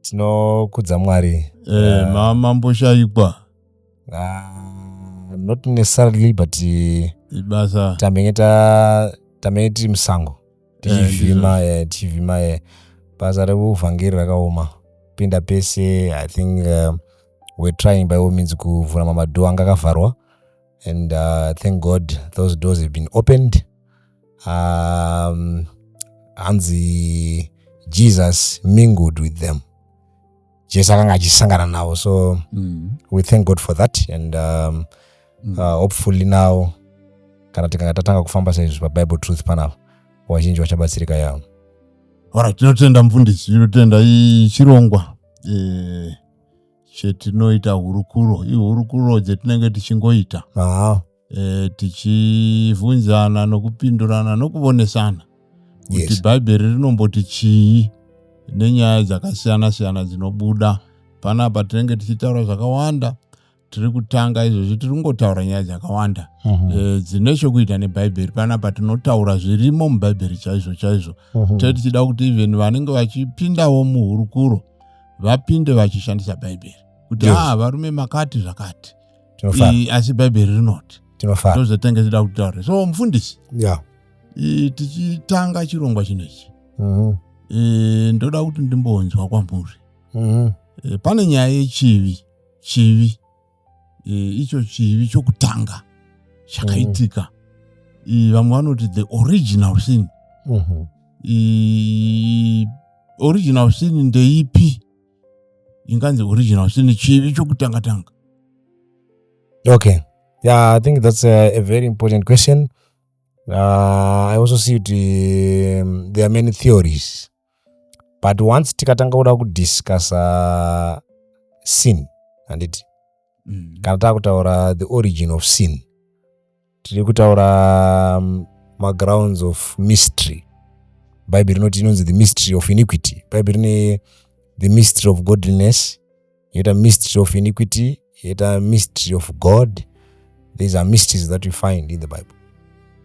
tinokudza mwari eh, ma, mamboshaikwa uh, not necessarily but ibasa tamenge ta tamenge tiri musango tichivhima eh, eh, tichivhima eh, basa rekuvhangeri rakaoma pinda pese i think uh, we're trying by all means kuvhura mamadhoo anga akavharwa and uh, thank god those doors have been opened um, hanzi jesus mingled with them jesu akanga achisangana navo so mm. we thank god for that and um, mm. uh, hopefully now kana tikanga tatanga kufamba saizvi pabible truth panapa vazhinji vachabatsirika yavo ora tinotenda mfundisi tinotenda chirongwa eh, chetinoita hurukuro ihurukuro dzetinenge tichingoita ah. e, tichivhunzana nokupindurana nokuvonesana kuti yes. bhaibheri rinomboti chii nenyaya dzakasiyana siyana dzinobuda panapa tinenge tichitaura zvakawanda tiri kutanga izvozvi tiri kungotaura nyaya dzakawanda uh mhm. -huh. e, dzine chokuita nebhaibheri panapa tinotaura zvirimo mubhaibheri chaizvo chaizvo uh mhm. -huh. tee tichida kuti even vanenge vachipindawo muhurukuro vapinde vachishandisa bhaibheri kuti yes. ah, varume makati zvakati asi bhaibheri rinoti tozotenge tida kutaura so mufundisi yeah. e, tichitanga chirongwa chino ichi mm -hmm. e, ndoda kuti ndimbonzwa kwamuri mm -hmm. e, pane nyaya yechivi chivi e, icho chivi chokutanga chakaitika mm -hmm. vamwe vanoti the original sin mm -hmm. e, original sin ndeipi inganzi original sin chivi chokutanga tanga okay yeah i think that's a, a very important question uh, i also see kuti um, there are many theories but once tikatanga kuda kudiscussa sin handiti mm. kana takutaura the origin of sin tiri kutaura um, magrounds of mystery bhaibheri rinoti inonzi the mystery of iniquity bhaibheri rine the mystery of godliness yoita mystery of iniquity yoita mystery of god these are mysteries that we find in the bible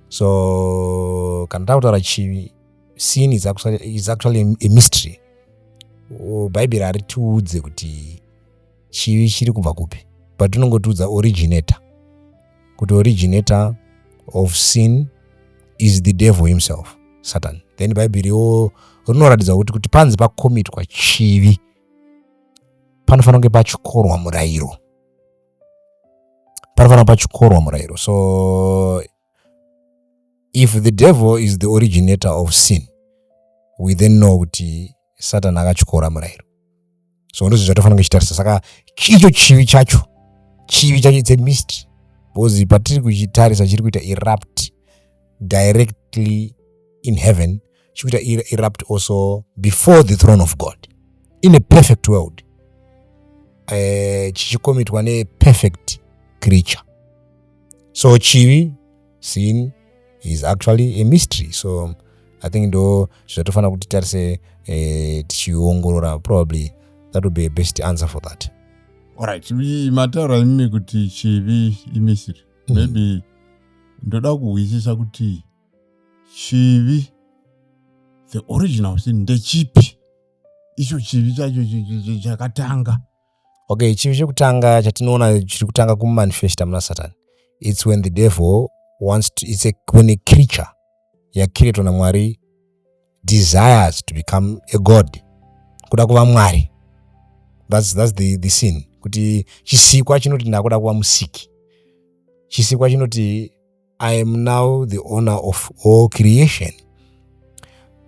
so kana takutaura chivi sin is actually, is actually a mystery bhaibheri haritiudze kuti chivi chiri kubva kupi but rinongotiudza originator kuti originator of sin is the devil himself satan then bhaibheri riwo rinoratidza kuti kuti panzi pakomitwa chivi panofanira kunge pachikorwa murayiro panofanira pachikorwa murayiro so if the devil is the originator of sin we then know kuti satani akachikora murayiro so ndozvo zvatofanira kunge chitarisa saka icho chivi chacho chivi chacho its a mystery because patiri kuchitarisa chiri kuita erupt directly in heaven chikuita erupt also before the throne of god in a perfect world eh, chichikomitwa uh, neperfect creature so chivi sin is actually a mystery so i think ndo zvatofanira kuti tarise eh, tichiongorora probably that would be a best answer for that orit mataura imimi kuti chivi imisiri mm. maybe ndoda kuhwisisa kuti chivi the original sin ndechipi icho chivi chacho chakatanga okay chivi chekutanga chatinoona chiri kutanga kumanifesta muna satani its when the devil wants to, it's a, when a creature yakreatwa namwari desires to become a god kuda kuva mwari that's, that's the, the sin kuti chisikwa chinoti ndakuda kuva musiki chisikwa chinoti I am now the owner of all creation.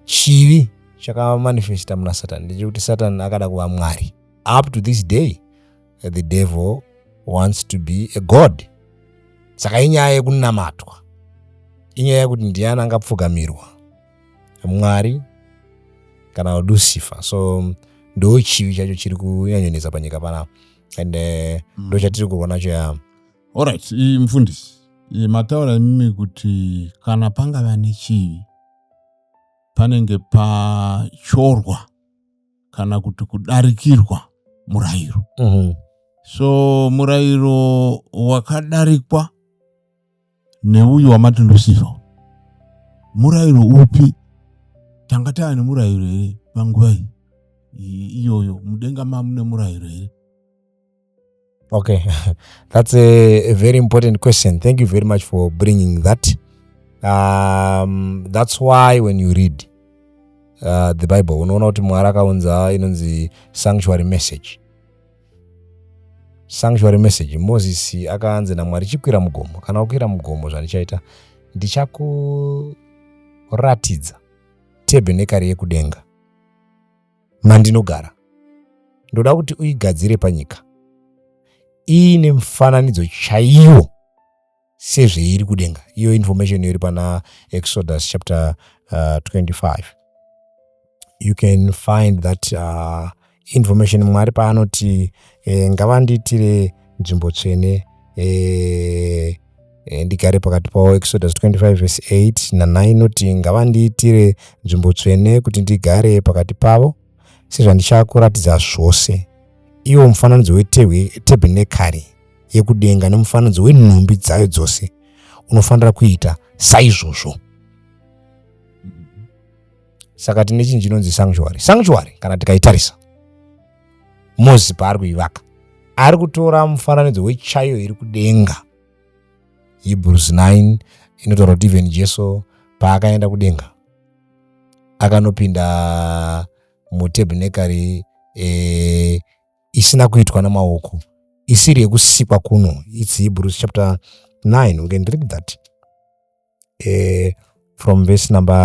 Chivi chakamanifesta muna Satan ndechekuti Satan akada kuva Mwari. Up to this day, the devil wants to be a god. Saka inyaya yekunamatwa, inyaya yekuti ndiani angapfugamirwa, Mwari kana Lucifer. So ndo chivi chacho chiri kunyanyonetsa panyika panapa and eh, mm. ndo chatiri kurwa nacho yambo. Alright, iyi mfundisi, iyi mataura imimi kuti kana pangava nechivi panenge pachorwa kana kuti kudarikirwa murayiro. Mm -hmm. So murayiro wakadarikwa neuyu wamati Lucifer, murayiro upi? Tanga tava nemurayiro here panguva iyi iyoyo? Mudenga mamune murayiro here? okay that's a, a very important question thank you very much for bringing that um, that's why when you read uh, the bible unoona kuti mwari akaunza inonzi sanctuary message sanctuary message moses akaanzi namwari chikwira mugomo kana ukwira mugomo zvandichaita ndichakuratidza tebhenekari yekudenga mandinogara ndoda kuti uigadzire panyika iine mufananidzo chaiwo sezveiri kudenga iyo information iri pana exodus chapter uh, 25 you can find that uh, information mwari paanoti eh, ngavandiitire nzvimbo tsvene eh, e, ndigare pakati pavo exodus 25 vese 8 na9 inoti ngavandiitire nzvimbo tsvene kuti ndigare pakati pavo sezvandichakuratidza zvose iwo mufananidzo wetebhenekari yekudenga nemufananidzo wenhumbi dzayo dzose unofanira kuita saizvozvo saka tine chinhu chinonzi sanctuary sanctuary kana tikaitarisa mozipa ari kuivaka ari kutora mufananidzo wechaiyo iri kudenga hebrews 9 inotaura kuti even jesu paakaenda kudenga akanopinda mutebhenekari e, isina kuitwa namaoko isiri yekusikwa kuno its hebrews chapter 9 we can read that eh, from verse number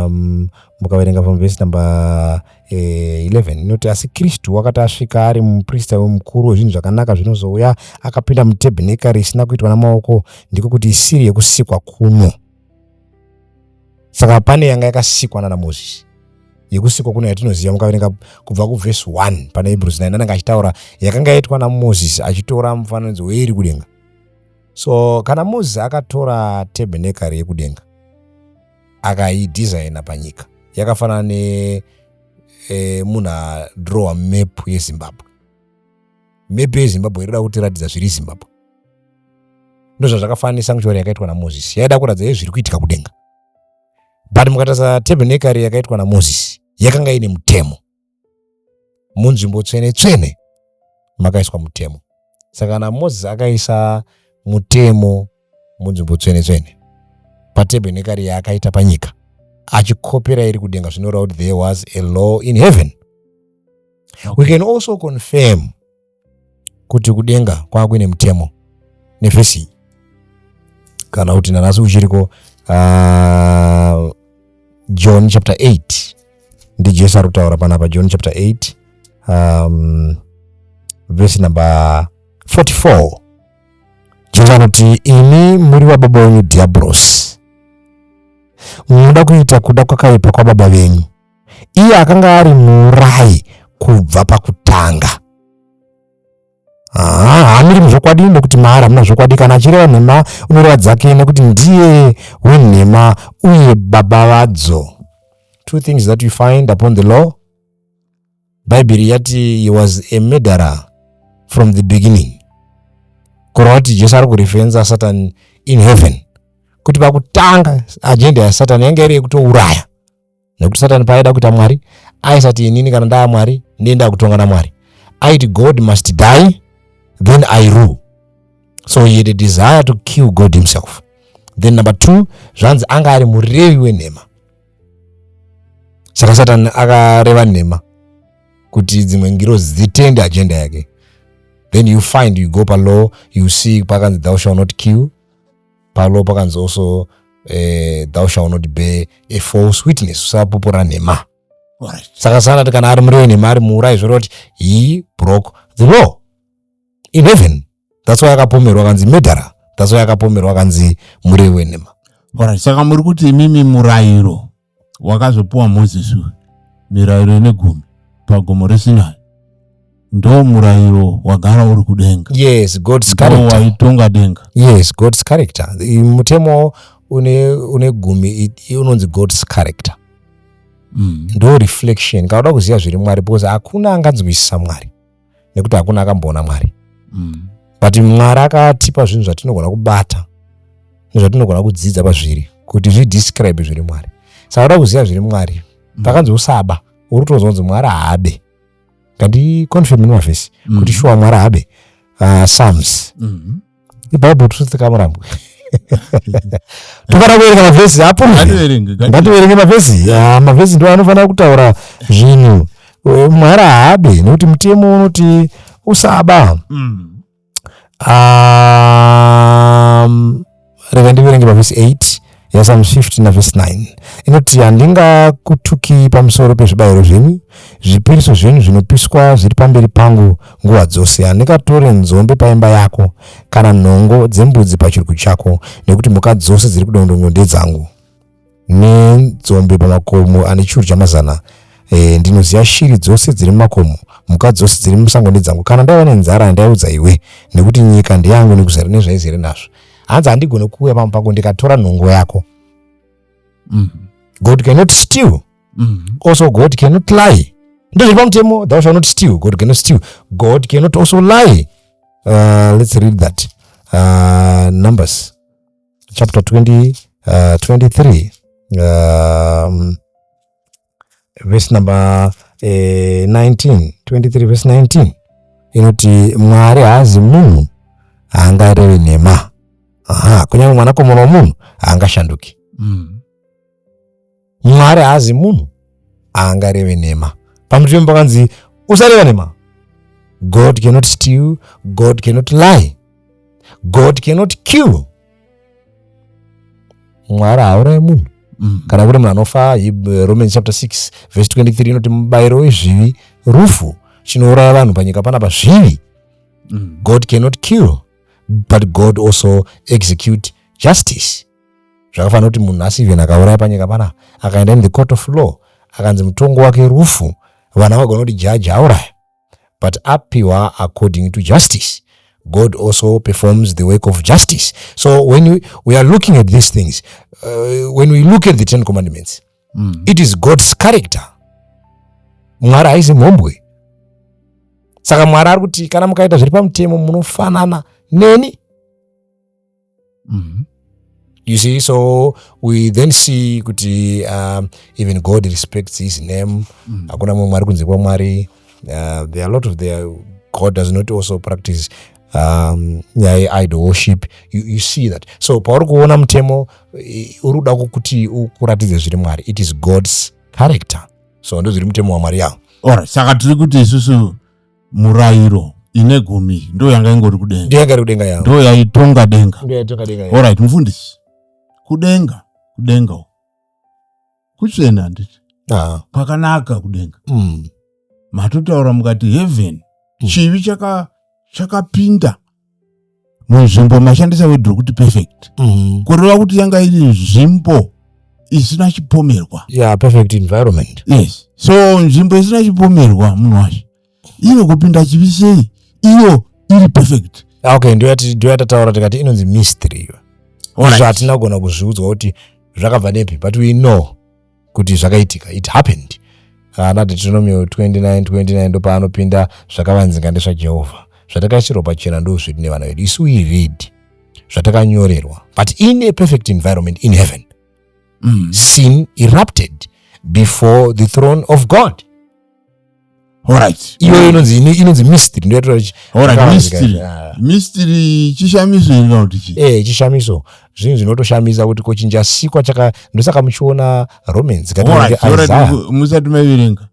um, mukaverenga from verse number eh, 11 inoti asi kristu wakati asvika ari muprista wemukuru wezvinhu zvakanaka zvinozouya akapinda mutebhenekari isina kuitwa namaoko ndiko kuti isiri yekusikwa kuno saka pane yanga yakasikwa nana mozisi yekusikwa kuno yatinoziva mukaverenga kubva kuvhesi 1 pana hebrews 9 anenge achitaura yakanga yaitwa namozisi achitora mufananidzo weiri kudenga So kana Mozisi akatora tebhenekari yekudenga akaidesigner panyika yakafanana ne e, munhu adrowa map yezimbabwe map yezimbabwe irida kutiratidza zviri zimbabwe ndozvazvakafanana nesanctuary yakaitwa namozisi yaida kuratidza ye zviri kuitika kudenga but mukatarisa tebhenekari yakaitwa namozisi yakanga ine mutemo munzvimbo tsvene tsvene makaiswa mutemo saka kana moses akaisa mutemo munzvimbo tsvene tsvene patebhenekari yaakaita panyika achikopera iri kudenga zvinoreva kuti there was a law in heaven we can also confirm kuti kudenga kwava kuine mutemo nevhesi iyi kana kuti nanhasi uchiriko uh, ah, john chapter 8 ndijesu ari kutaura panapa john chapter 8 um, vhesi number 44 jesu anoti imi muri vababa wenyu diabrosi munoda kuita kuda kwakaipa kwababa venyu iye akanga ari muurayi kubva pakutanga haa hamiri muzvokwadi nokuti maari hamuna zvokwadi kana achireva nhema unoreva dzake nekuti ndiye wenhema uye baba vadzo two things that you find upon the law bhaibheri yati he was a murderer from the beginning kureva kuti jesu ari kurefenza satan in heaven kuti pakutanga ajenda yasatani yanga iri yekutouraya nekuti satani paaida kuita mwari aisati inini kana ndaa mwari ndiye ndakutonga namwari aiti god must die then i rule so he had a desire to kill god himself then number two zvanzi anga ari murevi wenhema saka satani akareva nhema kuti dzimwe ngirozi dzitende agenda yake then you find you go palaw you see pakanzi thou shall not kill Palo pakanzi also eh, thou shall not bear a false witness usapupura nhema right. saka sanati kana ari murei nhema ari muurai zvoreva kuti he broke the law in heaven that's why akapomerwa akanzi medhara that's why akapomerwa akanzi murei wenhema right. saka muri kuti imimi murayiro wakazopiwa mozisi uyu mirairo ine gumi pagomo resinai ndo murayiro wagara uri kudenga yes god's character waitonga denga yes god's character mutemo une une gumi unonzi god's character mm. ndo reflection kana uda kuziva zviri mwari because hakuna anganzwisisa mwari nekuti hakuna akamboona mwari mm. but mwari akatipa zvinhu zvatinogona kubata nezvatinogona kudzidza pazviri kuti zvidescribe zviri mwari saka uda kuziva zviri mwari mm. pakanzi usaba uri kutonzwa kunzi mwari haabe kandiconfirm nemavhesi mm. kuti shuwa mwari haabe uh, psalms mm -hmm. ibhaibheri totsika murambo tofana kuverenga mavhesi apo ngativerenge mavhesi ah, mavhesi ndo anofanira kutaura zvinhu eh, mwari haabe nekuti mutemo unoti usaba mm. um, rega ndiverenge mavhesi 8 yaSam 15 navhesi 9 inoti, Handingakutukii pamusoro pezvibayiro zvenyu, zvipiriso zvenyu zvinopiswa zviri pamberi pangu nguva dzose. Handingatore nzombe paimba yako, kana nhongo dzembudzi pachirugu chako, nekuti mhuka dzose dziri kudongondongo ndedzangu. Nenzombe pamakomo ane chiuru chamazana, e, ndinoziva shiri dzose dziri mumakomo, mhuka dzose dziri musango ndedzangu. Kana ndaiva nenzara, ndaiudza iwe, nekuti nyika ndeyangu nekuzara nezvaizere nazvo. hanzi handigone kuuya pamba pangu ndikatora nhongo yako mm. god cannot steal mm. also god cannot lie ndozviri pamutemo thou shall not steal god cannot steal god cannot also lie uh, let's read that uh, numbers chapter 20 uh, 23 um, vhesi number eh, 19 23 vhesi 19 inoti mwari haazi munhu haangarevi nhema aha kunyange mwanakomana womunhu haangashanduki mm. mwari haazi munhu haangareve nhema pamutirimo pakanzi usareva nhema god cannot steal god cannot lie god cannot kill mwari haurai munhu mm. kana kuri munhu anofa eh, romans chapter 6 verse 23 inoti mubayiro wezvivi rufu chinouraya vanhu panyika pana pazvivi mm. god cannot kill but god also execute justice zvakafanira kuti munhu asi even akauraya panyika panapa akaenda in the court of law akanzi mutongo wake rufu vana vagona kuti jaji auraya but apiwa according to justice god also performs the work of justice so when we, we are looking at these things uh, when we look at the ten commandments mm. it is god's character mwari haisi mhombwe saka mwari ari kuti kana mukaita zviri pamutemo munofanana neni mm -hmm. you see so we then see kuti um, even god respects his name mm. hakuna mm. mumwe ari kunze kwamwari uh, there are a lot of their god does not also practice um, nyaya um, yeidol worship you, you see that so pauri kuona mutemo uri kuda kuti ukuratidze zviri mwari it is god's character so ndozviri mutemo wamwari yavo ora saka tiri kuti isusu murairo ine gumi ndo yanga ingori kudenga ndo yanga iri kudenga yavo ndo yaitonga denga ndo yaitonga denga yavo alright mufundisi kudenga kudenga uko kuchena handiti ah. kwakanaka kudenga mm. matotaura mukati heaven mm. chivi chakapinda chaka munzvimbo mashandisa wedhi rokuti perfect mm-hmm. kureva kuti yanga iri nzvimbo isina chipomerwa yeah, perfect environment yes so nzvimbo isina chipomerwa munhu wacho ino kupinda chivi sei iyo iri perfect ah, okay ndoyatataura tikati inonzi mystery iyo izvo hatina kugona kuzviudzwa kuti zvakabva nepi but we know kuti zvakaitika it happened ana deuteronomio 29 29 ndopaanopinda zvakavanzinga ndezvajehovha zvatakaitirwa pachena ndo zvedu nevana vedu isu we read zvatakanyorerwa but in a perfect environment in heaven mm. sin erupted before the throne of god iyoyo inonzi inonzi mystery ndoyatoraamystery ah. chishamiso irina kuti chii ee eh, chishamiso zvinhu zvinotoshamisa kuti kochinja sikwa chaka ndosaka muchiona romans musati maiverenga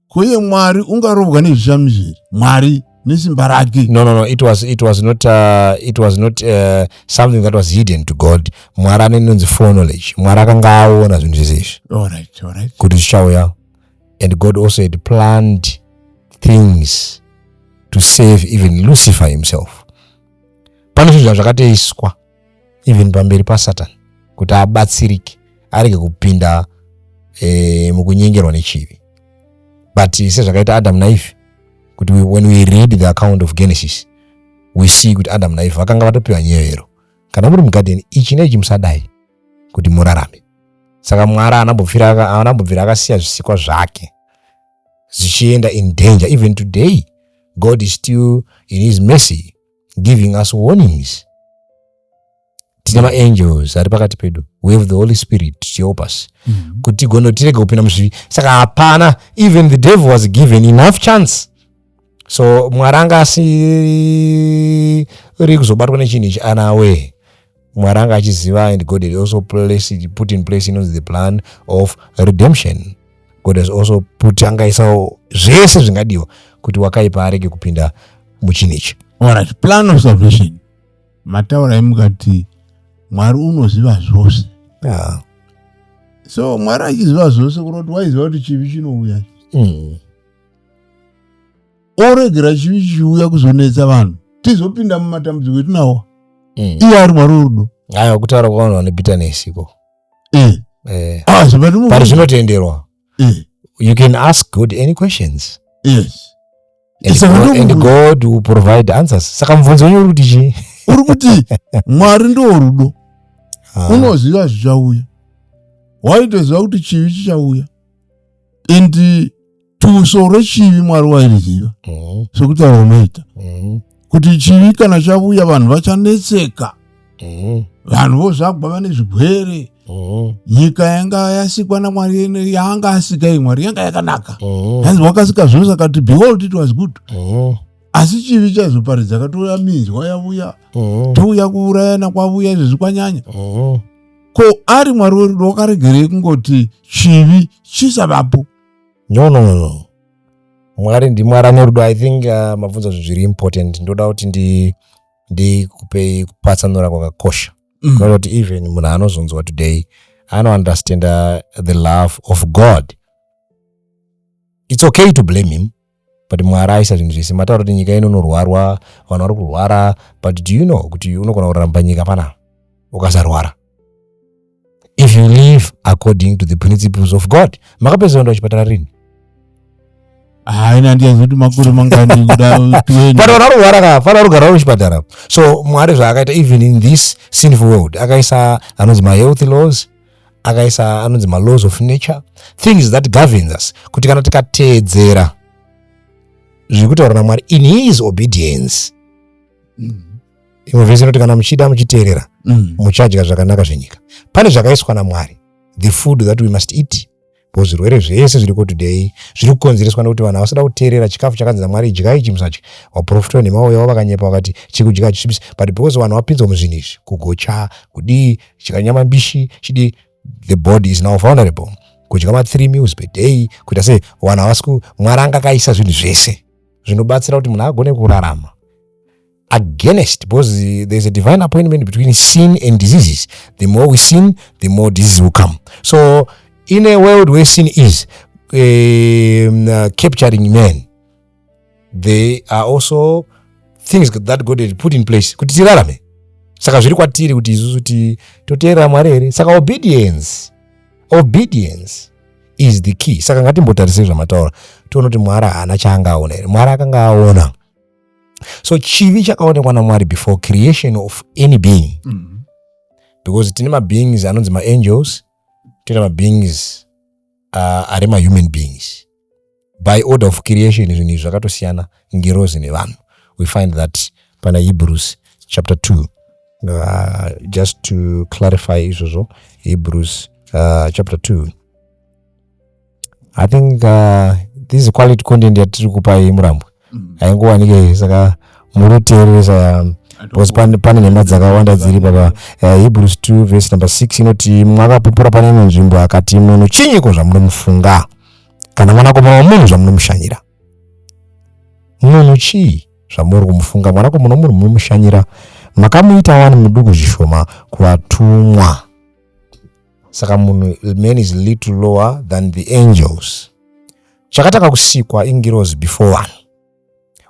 koye mwari ungarovwa nezvishamiso iri mwari nesimba rake no no no it was it was not uh, it was not uh, something that was hidden to god mwari anenonzi foreknowledge mwari akanga aona zvinhu zvese izvi kuti zvichauya and God also had planned things to save even Lucifer himself. Pane zvinhu zvakatoiswa even pamberi paSatan kuti abatsirike arege kupinda eh, mukunyengerwa nechivi but sezvakaita Adam naEve kuti when we read the account of Genesis we see kuti Adam naEve vakanga vatopiwa nyevero kana muri mugadheni ichi neichi musadai kuti murarame saka mwari anambobvira akasiya zvisikwa zvake zvichienda in danger even today god is still in his mercy giving us warnings tine maangels ari pakati pedu we have the holy spirit tichihelp us mm -hmm. kuti gono tirege kupinda muzvivi saka hapana even the devil was given enough chance so mwari anga asiri kuzobatwa nechinhu ichi ana wee mwari anga achiziva and god had also placed, put in place inonzi the plan of redemption god has also put angaisawo zvese zvingadiwa kuti wakaipa arege kupinda muchinhu ichi orit plan of salvation mataurai mukati mwari unoziva zvose yeah. so mwari achiziva zvose kunoti waiziva kuti chivi chinouya mm. oregera chivi chiuya kuzonetsa vanhu tizopinda mumatambudziko etinawo mm. iye ari mwari werudo aya kutaura kwavanhu vane bitterness iko eh. eh. ah, but zvinotenderwa eh. you can ask god any questions yes and, God, and god will provide answers saka mubvunzo wenyu uri kuti chii uri kuti mwari ndo rudo ah. unoziva zvichauya waitoziva kuti chivi chichauya and tuso rechivi mwari wairiziva mm. sekutaura unoita mm. kuti chivi kana chavuya vanhu vachanetseka mm. vanhu vozvagwa vane zvigwere nyika yanga yasikwa namwari yaanga asika i mwari yanga yakanaka hanzi wakasika zvose akati behold it was good asi chivi chazoparidza katouya minzwa yavuya touya kuurayana kwavuya izvezvi kwanyanya ko ari mwari werudo wakaregerei kungoti chivi chisavapo no no no mwari ndimwari ane rudo i think uh, mabvunza zvinhu zviri important ndoda kuti ndi ndikupei kupatsanura kwakakosha mm. kuti even munhu anozonzwa today anounderstanda the love of god it's okay to blame him but mwari aisa zvinhu zvese mataura kuti nyika ino inorwarwa vanhu vari kurwara but do you know kuti unogona kuramba nyika panapa ukasarwara if you live according to the principles of god makapedza kuenda kuchipatara rini haina handiyazi kuti makore mangani kuda but vanhu varugara ka fana rugara vari kuchipatara so mwari zvaakaita even in this sinful world akaisa anonzi mahealthy laws akaisa anonzi malaws of nature things that governs us kuti kana tikateedzera zviri kutaura namwari in his obedience mm. imwe vese inoti kana muchida muchiteerera mm. muchadya zvakanaka zvenyika pane zvakaiswa namwari the food that we must eat Because zvirwere zvese zviriko today zviri kukonzereswa nekuti vanhu havasada kuteerera chikafu chakanzi naMwari idyai ichi musadya. Vaprofita venhema vauya vakanyepa vakati chiri kudya hachisvibisi but because vanhu vapinzwa muzvinhu izvi kugocha kudii chika nyama mbishi chidii the body is now vulnerable kudya ma three meals per day kuita sei vanhu havasi mwari anga akaisa zvinhu zvese zvinobatsira kuti munhu agone kurarama against because there's a divine appointment between sin and diseases the more we sin the more disease will come so in a world where sin is um, uh, capturing men there are also things that god had put in place kuti tirarame saka zviri kwatiri kuti isusu ti toteerera mwari here saka obedience obedience is the key saka ngatimbotarisei zvamataura tione kuti mwari haana chaanga aona here mwari akanga aona so chivi chakaonekwa namwari before creation of any being mm -hmm. because tine mabeings anonzi maangels tine mabeings uh, ari mahuman beings by order of creation zvinhu izvi zvakatosiyana ngirozi nevanhu we find that pana hebrews chapter 2 uh, just to clarify izvozvo hebrews uh, chapter 2 i think uh, this quality content yatiri kupa iyi murambwe mm. haingowanike saka muri kuteereresa um, because pane nhema dzakawanda dziri baba uh, hebrews 2 verse number 6 inoti mwakapupura pane imwe nzvimbo akati munhu chinyiko zvamunomufunga kana mwanakomana wamunhu zvamunomushanyira munhu chii zvamuri kumufunga mwanakomana wamunhu munomushanyira makamuita wani muduku zvishoma kuvatumwa saka munhu man is little lower than the angels chakatanga kusikwa ingirozi before vanhu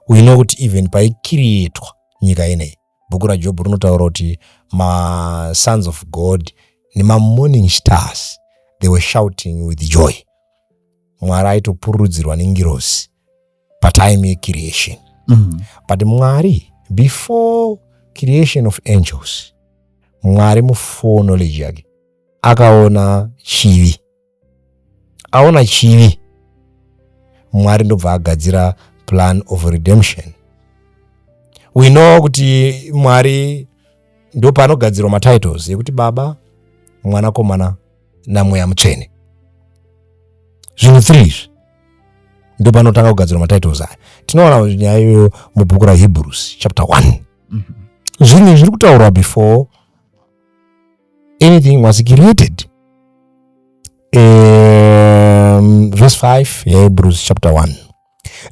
uino kuti even paikirietwa nyika ineyi bhuku rajobho rinotaura kuti masons of god nemamorning stars they were shouting with joy mwari aitopururudzirwa nengirozi patime yecreation mm. but mwari before creation of angels mwari mufull knowledge yake akaona chivi aona chivi mwari ndobva agadzira plan of redemption we know kuti mwari ndopanogadzirwa matitles yekuti baba mwanakomana namweya mutsvene zvinhu three izvi ndo panotanga kugadzirwa matitles aya tinoona nyaya iyoyo mubhuku rahebrews chapter one mm-hmm. zvinhu zviri kutaurwa before anything was created um, verse 5 yahebrews chapter 1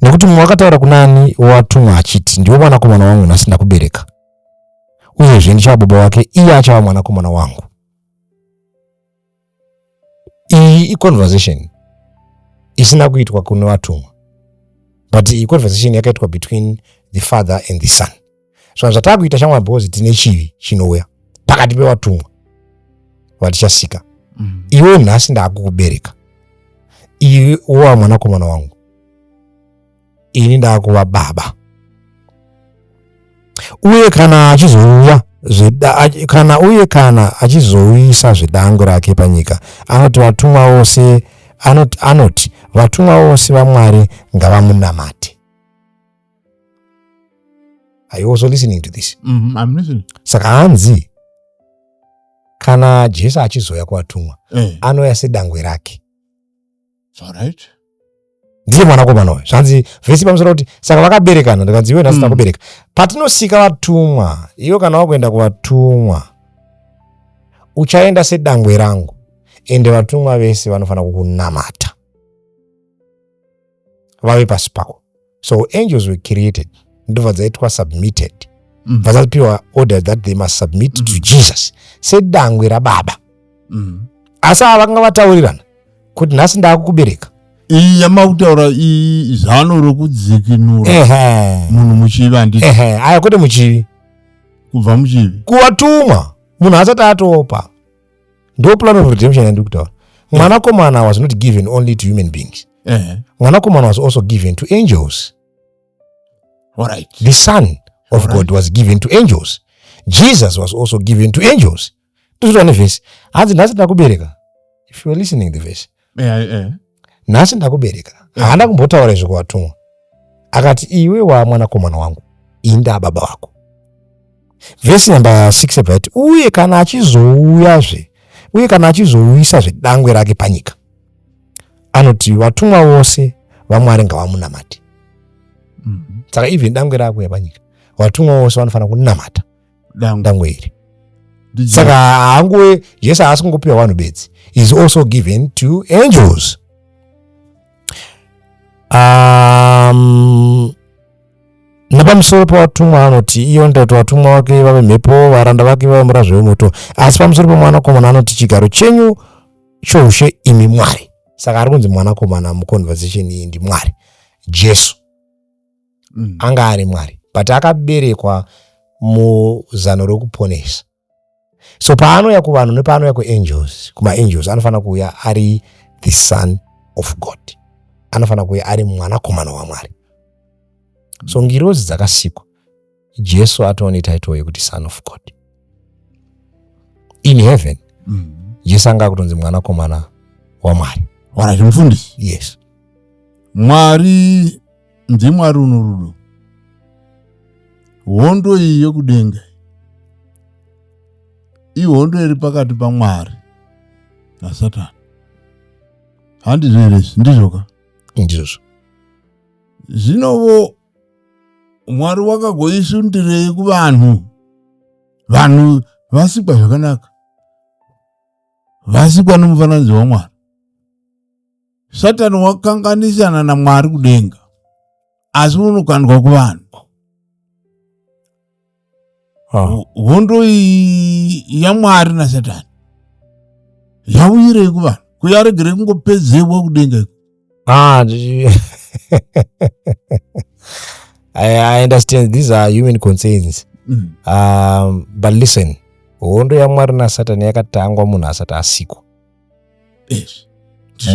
nekuti mumwe wakataura kunani watumwa achiti ndiwe mwanakomana wangu nhasi ndakubereka uyezve ndichava baba wake iye achava mwanakomana wangu iyi iconversation isina kuitwa kune vatumwa but iyi conversation yakaitwa between the father and the son saka zvataa kuita shamwari because tine chivi chinouya pakati pevatumwa vatichasika mm. iwe nhasi ndaakukubereka iwe wova mwanakomana wangu ini ndakuva baba uye kana achizouya zvida, kana uye kana achizouyisa zvedango rake panyika anoti vatumwa vose anoti, anoti vatumwa vose vamwari ngavamunamate are you also listening to this mm -hmm, I'm listening. saka hanzi kana jesu achizouya kuvatumwa eh. anouya sedangwe rake Alright. ndiye mwanakomana uyu zvanzi vhesi pamusoro kuti saka vakaberekana ndikanzi iwe nhasi Mm. takubereka patinosika vatumwa iwe kana wakuenda kuvatumwa uchaenda sedangwe rangu ende vatumwa vese vanofanira kukunamata vave pasi pako so angels were created ndobva dzaitwa submitted mm. bva dzapiwa order that they must submit mm. to mm-hmm. jesus sedangwe rababa mm. asi ava vakanga vataurirana kuti nhasi ndaakukubereka iyi yamautaura iyi zano rokudzikinura munhu muchivi anditi aya kwete muchivi kubva muchivi kuvatumwa munhu asati atopa ndo plan of redemption yandiri kutaura mwanakomana was not given only to human beings mwanakomana was also given to angels right. the son of right. god was given to angels jesus was also given to angels tozvitwa nevhesi hanzi nhasi takubereka if youare listening the vhesi eh, eh. nhasi ndakubereka eh. haana kumbotaura izvo kuvatumwa akati iwe wamwanakomana wangu ini ndaababa vako vhesi namba 6 yabvaiti uye kana achizouyazve uye kana achizouyisa zvedangwe rake panyika anoti vatumwa vose vamwari ngavamunamati mhm. saka even dangwe rako yapanyika vatumwa vose vanofanira kunamata dangwe iri saka haanguve jesu haasi kungopiwa vanhu bedzi is also given to angels um, nepamusoro pevatumwa anoti iyo ndakuti vatumwa vake vave mhepo varanda vake vave murazvo wemoto asi pamusoro pemwanakomana anoti chigaro chenyu choushe imi mwari saka ari kunzi mwanakomana muconversation iyi ndimwari jesu mm. anga ari mwari but akaberekwa muzano rokuponesa so paanouya kuvanhu nepaanouya kuangels kumaangels anofanira kuuya ari the son of god anofanira kuuya ari mwanakomana wamwari so ngirozi dzakasikwa jesu atova netitle yekuti son of god in heaven mm. jesu anga akutonzi mwanakomana wamwari wara zvemufundisi yes mwari ndimwari unorudo hondo iyi yokudenga ihondo iri pakati pamwari nasatani handizvo here izvi ndizvoka ndizvozvo zvinovo mwari wakagoisundirei kuvanhu vanhu vasikwa zvakanaka vasikwa nomufananidzo wamwari satani wakanganisana namwari kudenga asi unokandwa kuvanhu hondo yamwari nasatani yauyirei kuvanhu kuyaregere kungopedzerwa kudenga iko ah, I, understand these are human concerns mm. um, but listen hondo yamwari nasatani yakatangwa munhu asati asikwa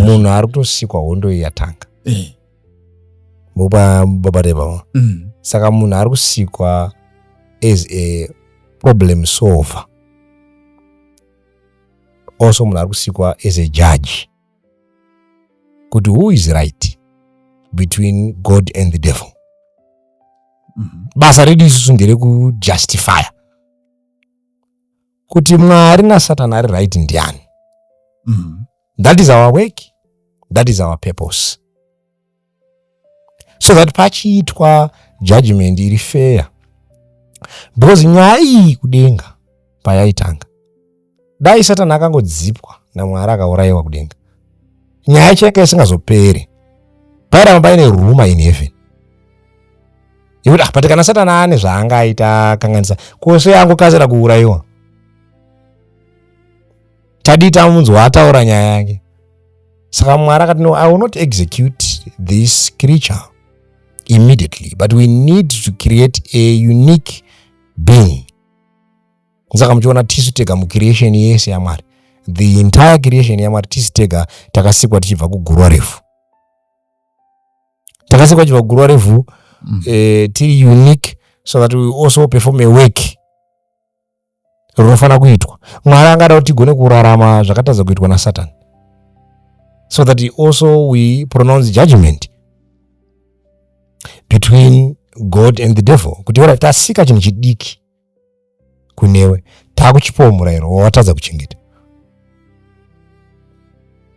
munhu ari kutosikwa hondo iyi yatanga eh. mupa baba rebaba mm. saka munhu ari kusikwa as a problem solver also munhu ari kusikwa as a judge kuti who is right between god and the devil mm-hmm. basa redu isusu nderekujustifya kuti mwari nasatani ari right ndiani mm. that is our work that is our purpose so that pachiitwa judgment iri fair because nyaya iyi kudenga payaitanga dai satani akangodzipwa namwari akaurayiwa kudenga nyaya chayanga isingazopere pairamba paine ruma in heaven yekuti ah, but kana satana ane zvaanga aita kanganisa kose angokasira kuurayiwa tadii tamunzwa ataura nyaya yake saka mwari akati no i will not execute this creature immediately but we need to create a unique being saka muchiona tisu tega mucreation yese yamwari the entire creation yamwari tisu tega takasikwa tichibva kugurwa refu takasikwa chibva kuguruva revhu mm. eh, tiri unique so that we also perform a work rinofanira kuitwa mwari angada kuti tigone kurarama zvakatadza kuitwa nasatani so that also we pronounce judgment between god and the devil kuti ora tasika chinhu chidiki kunewe takuchipawo murayiro wawatadza kuchengeta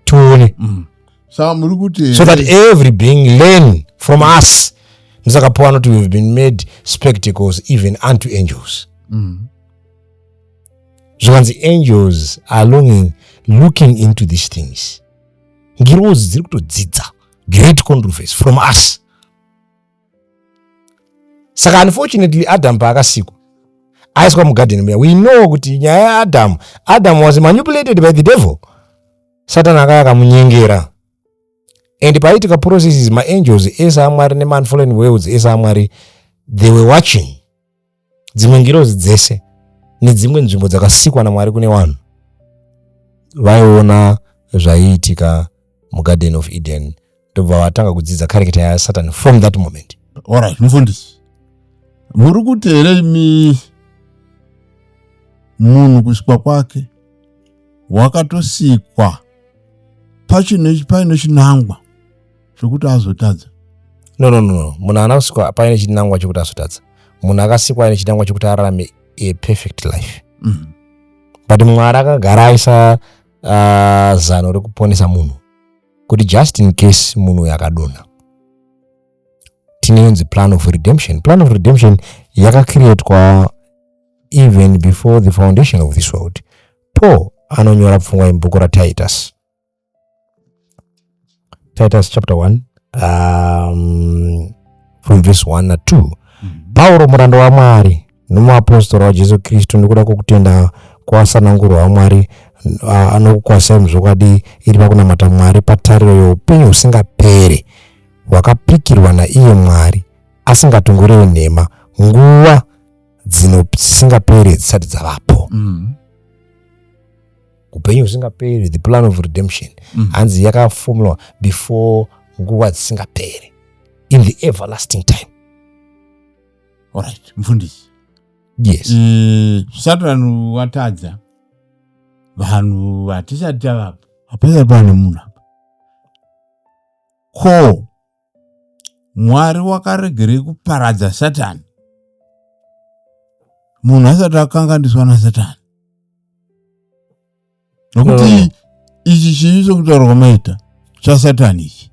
tione mm. so that every being learn from us ndisaka paul anoti we've been made spectacles even unto angels mm. zvikanzi angels are longing looking into these things ngirozi dziri kutodzidza great controversy from us saka unfortunately adam paakasikwa aiswa mugadheni muya we know kuti nyaya yaadam adam was manipulated by the devil satani akaya akamunyengera and paitika processes maangels ese amwari nemanfolen worlds ese amwari they were watching dzimwe ngirozi dzese nedzimwe nzvimbo dzakasikwa namwari kune vanhu vaiona zvaiitika mugarden of eden ndobva vatanga kudzidza kareketa yasatan from that moment orit mufundisi muri kuti here imi munhu kusikwa kwake wakatosikwa paine chinangwa zvekuti azotadza no no no munhu haana kusikwa paine chinangwa chekuti azotadza munhu akasikwa aine chinangwa chekuti ararame a perfect life mm. but mwari akagara aisa uh, zano rekuponesa munhu kuti just in case munhu uyo akadonha tineyonzi plan of redemption plan of redemption yakacreatwa even before the foundation of this world paul anonyora pfungwa yemubhuku ratitus Titus chapter 1 um, from verse 1 na 2 pauro muranda wamwari nomuapostora wajesu kristu nokuda kwokutenda kwasanangurwa wamwari ah, anokukwasai muzvokwadi iri pakunamata mwari patariro youpenyu husingapere hwakapikirwa naiye mwari asingatongorewi nhema nguva dzino dzisingapere dzisati dzavapo Mm. upenyu husingaperi the plan of redemption mm. hanzi mm. yakafomwa before nguva dzisingaperi in the everlasting time alright mfundisi yes e, satani watadza vanhu hatisati tavapo hapasati pane munhu apa ko mwari wakaregerei kuparadza satani munhu asati akanganiswa nasatani nokuti oh. ichi chii chokutaura kwamaita chasatani ichi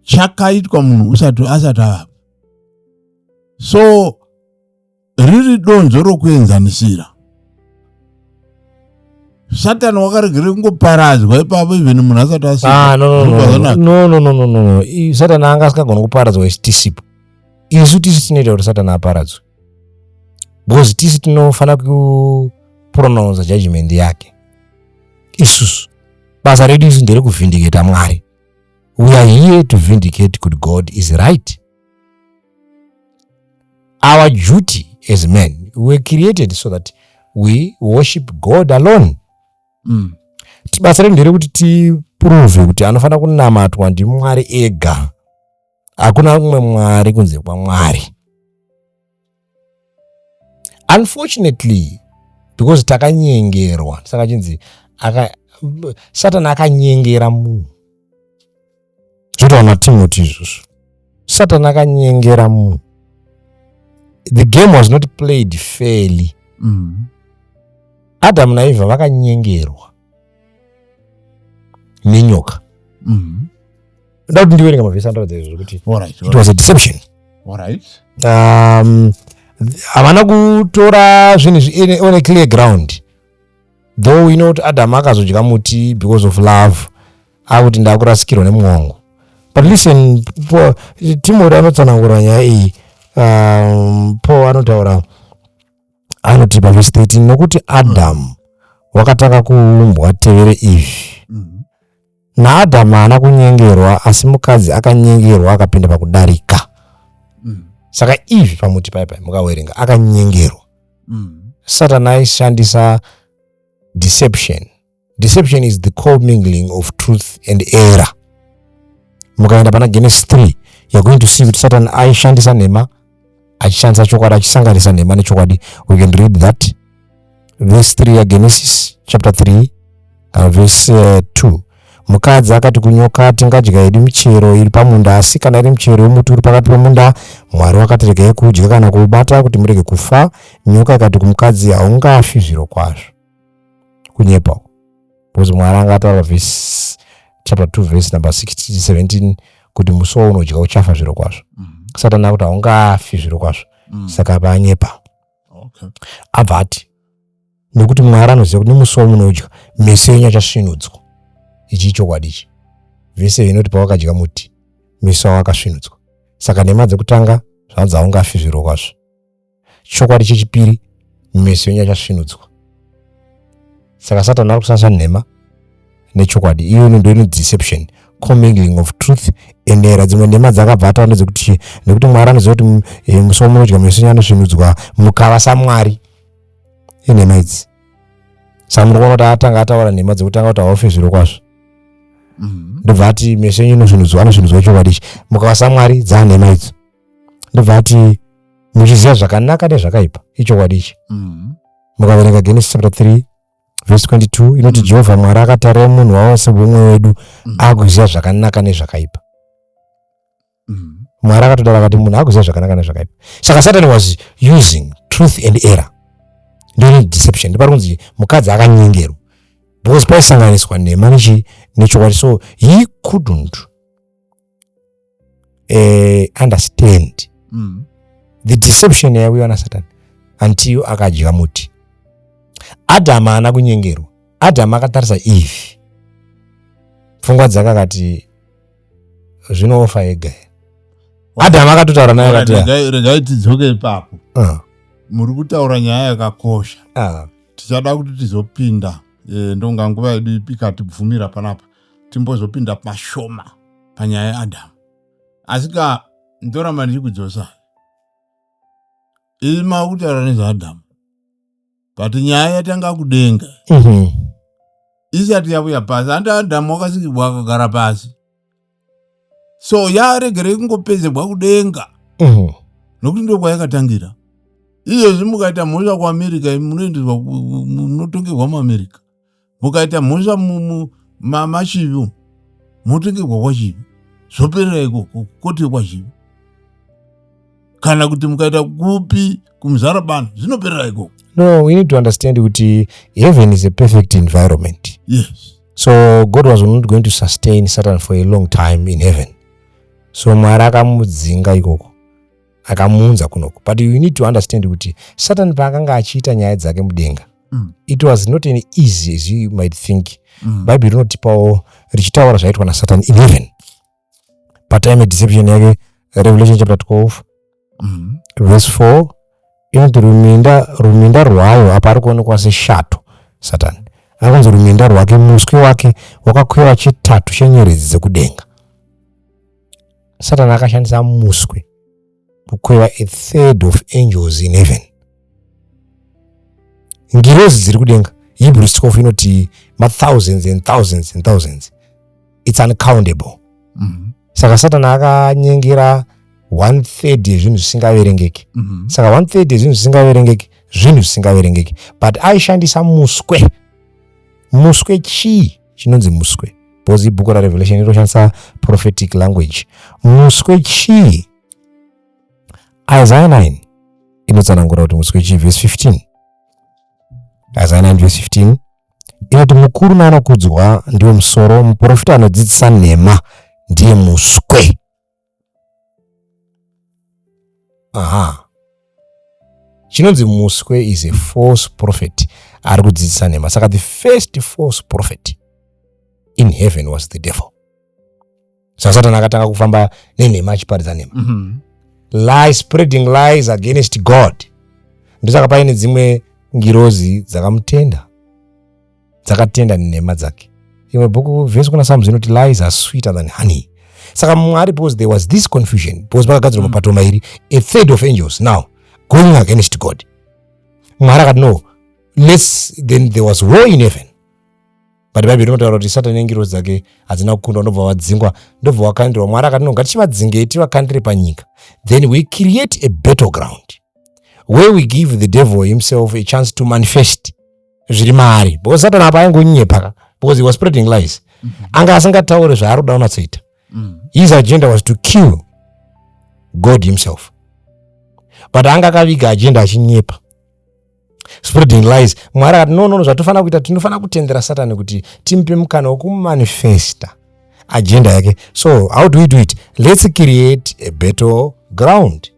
chakaitwa munhu usati asati avapo so riri donzvo rokuenzanisira satani wakaregere kungoparadzwa ipapo even munhu asati asatani ah, anga asingagona kuparadzwa isu tisipo isu tisu tinoita kuti satani aparadzwe because tisu tinofanira kupronounsa judgment yake isusu basa redu isu ndere kuvhindiketa mwari we are here to vindicate kuti god is right Our duty as men, we were created so that we worship God alone. Mm. Basa redu nderekuti tiprove kuti anofanira kunamatwa ndiMwari ega. Hakuna umwe Mwari kunze kwaMwari. unfortunately because takanyengerwa saka chinzi satani akanyengera munhu zvotaona timoti izvozvo satani akanyengera munhu the game was not played fairly mm. adamu naivha vakanyengerwa nenyoka mm-hmm. nda kuti ndiwerenga mavhesi anoratidza izvo zvekuti it was a deception um, havana kutora zvinhu zvi on a clear ground though we know kuti adamu akazodya muti because of love akuti ndakurasikirwa nemumwe wangu but listen timori anotsanangura nyaya iyi um, paul anotaura anoti pavhesi 13 nokuti adamu wakatanga kuumbwa tevere izvi mm-hmm. naadamu haana kunyengerwa asi mukadzi akanyengerwa akapinda pakudarika mm. saka izvi pamuti pai pai mukawerenga akanyengerwa mm. satani aishandisa deception deception is the commingling of truth and error mukaenda pana genesis 3 you're going to see kuti satan aishandisa nhema achishandisa chokwadi achisanganisa nhema nechokwadi we can read that verse 3 yagenesis chapter 3 kana uh, verse 2 uh, mukadzi akati kunyoka ati ngadya yedu michero iri pamunda asi kana iri michero yomuti uri pakati pemunda mwari wakati regai kudya kana kuubata kuti murege kufa nyoka ikati kumukadzi haungafi zviro kwazvo kunyepa uko because mwari anga ataura vhesi chapter 2 vhesi number 16 17 kuti musi waunodya uchafa zviro kwazvo mm -hmm. satani akuti haungafi zviro kwazvo mm. saka apa anyepa okay. abva ati nekuti mwari anoziva kuti nemusi wamunodya meso yenyu achasvinudzwa ichi ichokwadi ichi vese inoti pawakadya muti meso awo akasvinudzwa saka nhema dzekutanga zvanzi haungafi zviro kwazvo chokwadi chechipiri meso enyu achasvinudzwa saka satani ari kusasa nhema nechokwadi iyo inondo ino deception commingling of truth and era dzimwe nhema dzakabva ataura ndedzekuti nekuti mwari anoziva kuti eh, musi wamunodya meso enyu anosvinudzwa mukava samwari inhema idzi saka muri kuona kuti atanga ataura nhema dzekutanga kuti haufe zviro kwazvo mm-hmm. ndobva ati meso enyu inosvinudzwa anosvinudzwa chokwadi ichi mukava samwari dzanhema idzo ndobva ati muchiziva zvakanaka nezvakaipa ichokwadi ichi mm. mukaverenga genesis chapter 3 vhesi 22 inoti mm. jehovha mwari akatarira munhu wavo sebumwe wedu mm. akuziva zvakanaka nezvakaipa mm. mwari akatodara akati munhu akuziva zvakanaka nezvakaipa saka satan was using truth and error ndiri deception ndipari kunzi mukadzi akanyengerwa because paisanganiswa nhema nechokwadi so he couldn't eh, understand mm. the deception yaiuya nasatani until akadya muti adhamu haana kunyengerwa adhamu akatarisa eve pfungwa dzake akati zvinoofa ega adhamu akatotaura naye akatiregai tidzoke ipapo ah. muri kutaura nyaya yakakosha ah. tichada kuti tizopinda eh, ndonga nguva yedu ikatibvumira panapa timbozopinda pashoma panyaya yaadhamu asi ka ndoramba ndichikudzosa ii makutaura nezvaadhamu but nyaya yatanga kudenga mhm. isati yavuya pasi handi adhamu wakasikirwa akagara pasi so yaregerei kungopedzerwa kudenga mhm. nokuti ndokwayakatangira izvezvi mukaita mhosva kuamerica munoendeswa munotongerwa muamerica mukaita mhosva machivi motongerwa kwachivi zvoperera ikoko koti kwachivi kana kuti mukaita kupi kumuzara bano zvinoperera ikoko no we need to understand kuti heaven is a perfect environment yes so god was not going to sustain satan for a long time in heaven so mwari akamudzinga ikoko akamuunza kunoku but you need to understand kuti satan paakanga achiita nyaya dzake mudenga mm. it was not an easy as you might think mm. bible rinotipawo richitaura zvaitwa nasatan in heaven patime deception yake revelation chapter 12 mm. verse 4 inoti ruminda ruminda rwayo apa ari kuonekwa seshato satani akanzi ruminda rwake muswe wake wakakweva chitatu chenyeredzi dzekudenga satani akashandisa muswe kukweva a third of angels in heaven ngirozi dziri kudenga hebrew scof inoti mathousands and thousands and thousands its uncountable mm -hmm. saka satana akanyengera one third yezvinhu zvisingaverengeki mm -hmm. saka one third yezvinhu zvisingaverengeki zvinhu zvisingaverengeki but aishandisa muswe muswe chii chinonzi muswe because ibhuku rarevelation ritoshandisa prophetic language muswe chii isaya 9 inotsanangura kuti muswe chii vhesi 15 isaya 9 vhesi 15 inoti mukuru naanokudzwa ndiwo musoro muprofita anodzidzisa nhema ndiye muswe aha chinonzi muswe is a false prophet ari kudzidzisa nhema saka the first false prophet in heaven was the devil saka satani akatanga kufamba nenhema achiparidza nhema mm -hmm. lie spreading lies against god ndosaka paine dzimwe ngirozi dzakamutenda dzakatenda nhema dzake imwe bhuku vhesi kuna samu zinoti lies are sweeter than honey saka mwari because there was this confusion because pakagadzirwa mm. mapato mairi a third of angels now going against god mwari akati no lets then there was war in heaven but bhaibheri rinotaura kuti satani nengirozi dzake hadzina kukundwa ndobva vadzingwa ndobva vakandirwa mwari akati no ngatichivadzingei tivakandire panyika then we create a battle ground where we give the devil himself a chance to manifest zviri maari because satani apa aingonyepa ka because he was spreading lies mm -hmm. anga asingataure zvaari kuda unatsoita mm -hmm. his agenda was to kill god himself but anga akaviga agenda achinyepa spreading lies mwari akati no nono zvatofanira kuita tinofanira kutendera satani kuti timupe mukana wekumanifesta agenda yake so how do we do it let's create a battle ground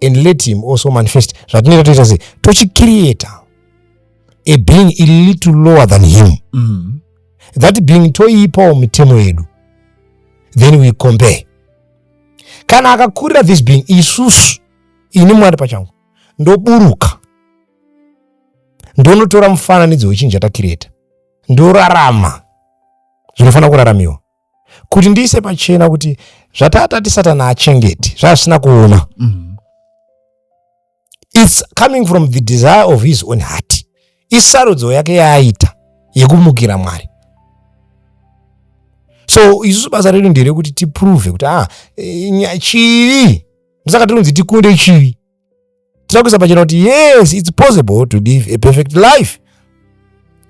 and let him also manifest zvatinoita toita sei tochicreata a being a little lower than him mm. that being toiipawo mitemo yedu then we compare kana akakurira this being isusu ini mwari pachangu ndoburuka ndonotora mufananidzo wechinhu chatakireta ndorarama zvinofanira kuraramiwa kuti ndiise pachena kuti zvatatati satani achengeti zvaasina kuona mm. its coming from the desire of his own heart isarudzo yake yaaita yekumukira mwari so isusu basa redu nderekuti tiprove kuti a ah, eh, chivi musaka tinonzi tikunde chivi tinoda kuisa pachena kuti yes its possible to live a perfect life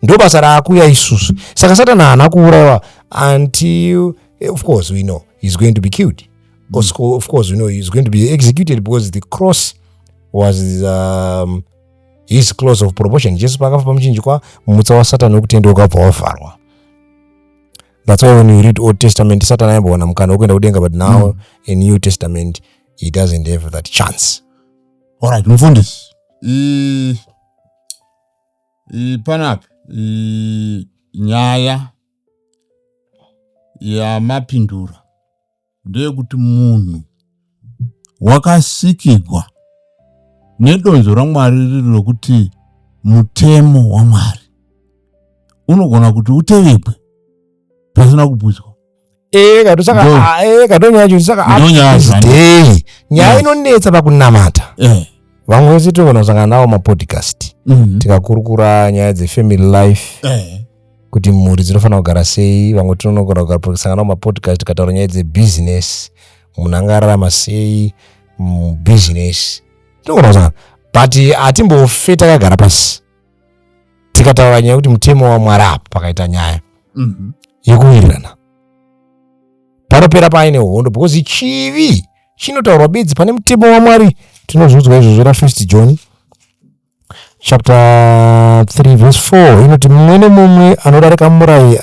ndo basa raakuya isusu saka satani haana kuurayiwa until eh, of course we know he's going to be killed mm. of course we know he's going to be executed because the cross was um, his close of proportion jesu paakafa pamuchinjikwa mutsa wasatani wekutenda wakabva wavharwa that's why when you read old testament satani aimbowana mukana wekuenda kudenga but now mm. a new testament he doesn't have that chance alright mfundisi panapa nyaya yamapindura ndeyekuti munhu wakasikigwa nedonzo ramwari riri rokuti mutemo wamwari unogona kuti utevekwe pasina kubvunzwa eh, ah, eh, eh. nyaya inonetsa pakunamata vamwe vese tinogona kusangana navo mapodcast mhm. tikakurukura nyaya dzefamily life kuti mhuri dzinofanira kugara sei vamwe tinonogona kusangana navo mapodcast tikataura nyaya dzebusiness munhu anga ararama sei mubusiness tinogona kusangana but hatimbofeta kagara pasi tikataura nyaya yekuti mutemo wamwari apo pakaita nyaya mhm. yekuwirirana panopera paaine hondo because chivi chinotaurwa bedzi pane mutemo wamwari tinozviudzwa izvozvo ra first john chapter 3 verse 4 inoti mumwe nemumwe anodarika murayi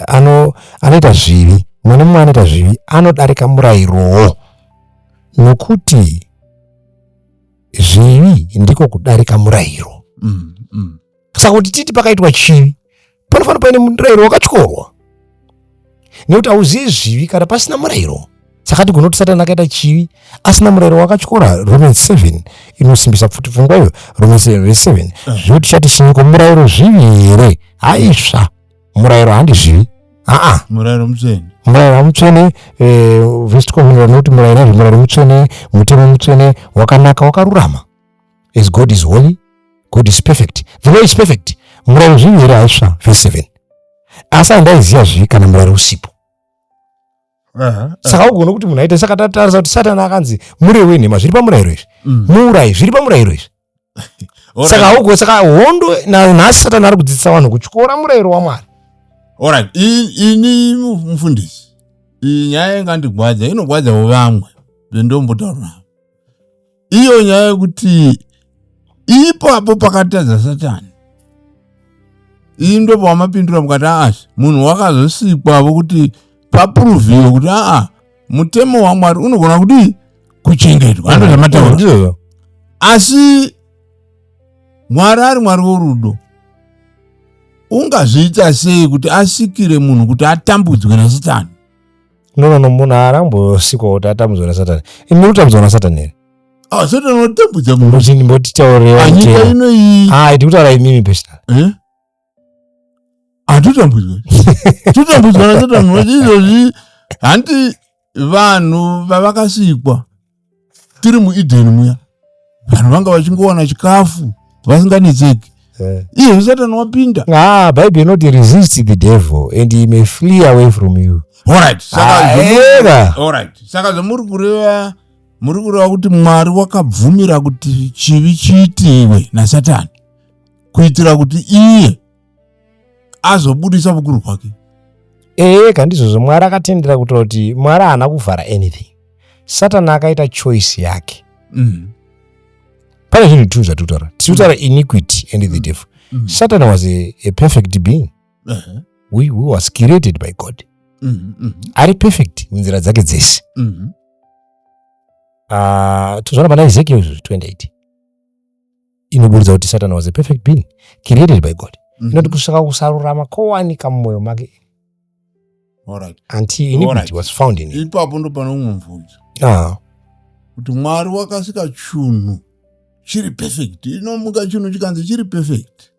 anoita zvivi mumwe nemumwe anoita zvivi anodarika murayirowo nokuti zvivi ndiko kudarika murayiro mm, mm. saka kuti titi pakaitwa chivi panofanira paine murayiro wakatyorwa nekuti hauzivi zvivi kana pasina murayiro saka tigona kuti satani akaita chivi asina murayiro wakatyora rome 7 inosimbisa futi pfungwa iyo rome 7 zvekuti chati sinyiko murayiro zvivi here haisva murayiro handizvivi aa murayiro mutsvene murayiro mutsvene eh, vestikomunira nokuti murayiro izvi murayiro mutsvene mutemo mutsvene wakanaka wakarurama as god is holy god is perfect the law is perfect murayiro zvivi here haisva verse seven asi handaiziva zvivi kana murayiro usipo saka ugona kuti munhu aita saka tatarisa kuti satani akanzi murewi nhema zviri pamurayiro izvi mm. muurai zviri pamurayiro izvi saka haugo saka hondo nhasi satani ari kudzidzisa vanhu kutyora murayiro wamwari orit ini mufundisi iyi nyaya ingandigwadza inogwadzawo vamwe bendombotaura navo iyo nyaya yekuti ipapo pakatadza satani iyi ndo pawamapindura mukati aasi munhu wakazosikwa vokuti papuruviwe kuti aa mutemo wamwari unogona kudii kuchengetwa ando zvamataura ndizvozvo asi mwari ari mwari worudo ungazviita sei kuti asikire munhu kuti atambudzwe nasatani no no no munhu aarambosikwa kuti atambudzwa nasatani imi muri kutambudzwa nasatani here Ah, satani anotambudza munhu mboti mbotitaurewa panyika ino iyi hayi ndikutaura imimi personal eh? hatotambudzwa totambudzwa natotambudzwa izvozvi hanti vanhu vavakasikwa tiri mueden muya vanhu vanga vachingowana chikafu vasinganetseki eh. iye satani wapinda ah, bible inoti resist the devil and he may flee away from you alright saka zvamuri ah, kureva muri kureva kuti mwari wakabvumira kuti chivi chiitiwe nasatani kuitira kuti iye azobudisa vukuru hwake ee kandizvozvo mwari akatendera kuitira kuti mwari haana kuvhara anything satani akaita choice yake mm. pane zvinhu two zvatiri kutaura tiri kutaura mm. iniquity and the mm. devil mm. satani was a, a perfect being uh -huh. we, we was created by god mm -hmm. ari perfect munzira dzake dzese mm -hmm. uh, ah, tozvana pana ezekiel 28 inoburitsa kuti satan was a perfect being created by god mhm. inoti kusvika kusarurama kowanika mumwoyo make ipapo ndo pane umwe mvunzo ah. kuti mwari wakasika chunhu chiri perfect inomuka chunhu chikanzi chiri perfect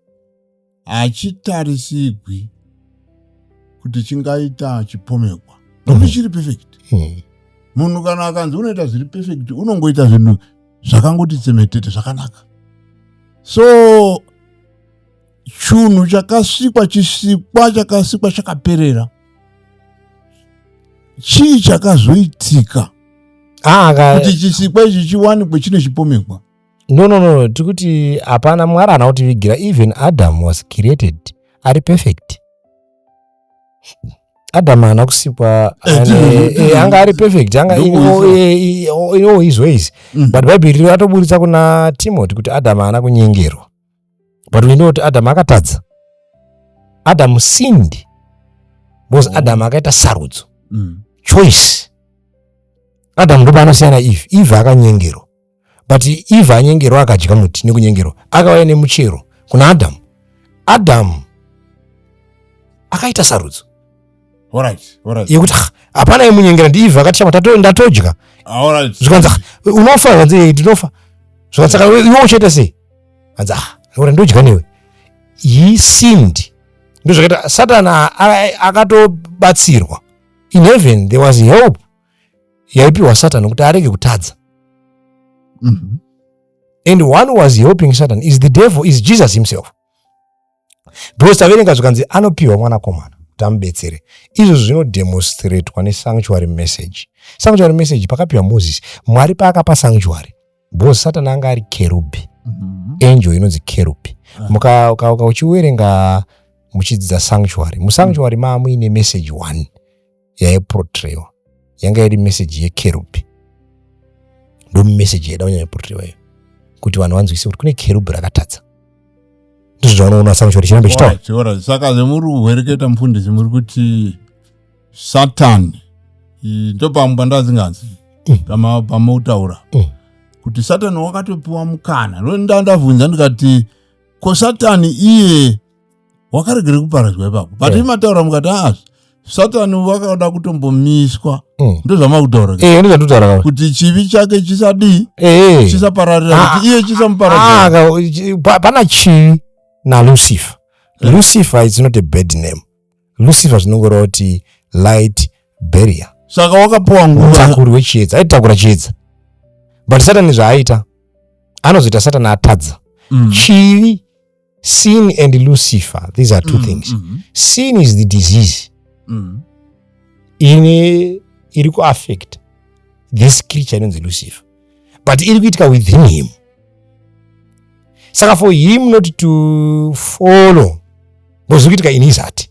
hachitarisigwi kuti chingaita chipomekwa nokuti mm. chiri perfect mm. munhu kana akanzi unoita zviri perfect unongoita zvinhu zvakangoti tsemetete zvakanaka so chunhu chakasikwa chisikwa chakasikwa chakaperera chii chakazoitika ah, kuti chisikwa ichi chiwanikwe chine chipomekwa no no no tiri kuti hapana mwari haana kutivigira even adam was created ari perfect adam haana kusikwa anga ari perfect anga in all his ways but bhaibheri ratoburitsa kuna timoti kuti adam haana kunyengerwa but we know kuti adamu akatadza adamu sinned because mm. adamu akaita sarudzo mm. choice adamu ndopaanosiyana eve eve akanyengerwa but eve anyengerwa akadya muti nekunyengerwa akauya nemuchero kuna adamu adamu akaita sarudzo yekuti hapana imunyengera ndiivhakatishama ndatodya ah, zvikanzi unofa zvanzi eh, ndinofa zvikanzi saka iwe uchaita sei anzi ah ora ndodya newe he seemed ndozvakaita satan akatobatsirwa in heaven there was help yaipiwa satan kuti arege kutadza mm -hmm. and one was helping satan is the devil is jesus himself because taverenga zvikanzi anopiwa mwanakomana kuti amubetsere izvozvo zvinodemonstratwa nesanctuary message sanctuary message pakapiwa moses mwari paakapa sanctuary because satani anga ari kerubhi mhm. angel inonzi kerubhi ah. mukauka uchiwerenga muchidzidza sanctuary musanctuary maamuine message one yaiprotrayiwa yanga iri meseji yekerubhi ndo meseji yaida kunyanya kuprotrayiwa iyo kuti vanhu vanzwise kuti kune kerubhi rakatadza ndizvo zvaunoona samushori chirambe chitaura saka zvemuri kuhwereketa mufundisi muri kuti satani ndopamwe pandazinganzi mm. pamautaura mm. kuti satani wakatopiwa mukana ndandavhunza ndikati ko satani iye wakaregere kuparadzwa ipapo but yeah. imataura mukati aa satani vakada kutombomiswa mm. ndozvamakutaura hey, eh, ndozvatotaura kuti chivi chake chisadii hey. Eh. chisapararira ah, kuti iye chisamupararira ah, ah, pana chivi nalucifer yeah. lucifer is not a bad name lucifer zvinongoreva kuti light barrier saka wakapiwa nguvatakuri wechiedza aitakura chiedza but satani zvaaita anozoita satani atadza mm. chivi sin and lucifer these are two mm, things mm -hmm. sin is the disease mm. ine iri kuaffect this creature inonzi lucifer but iri kuitika within him saka for him not to follow bozviri kuitika in his heart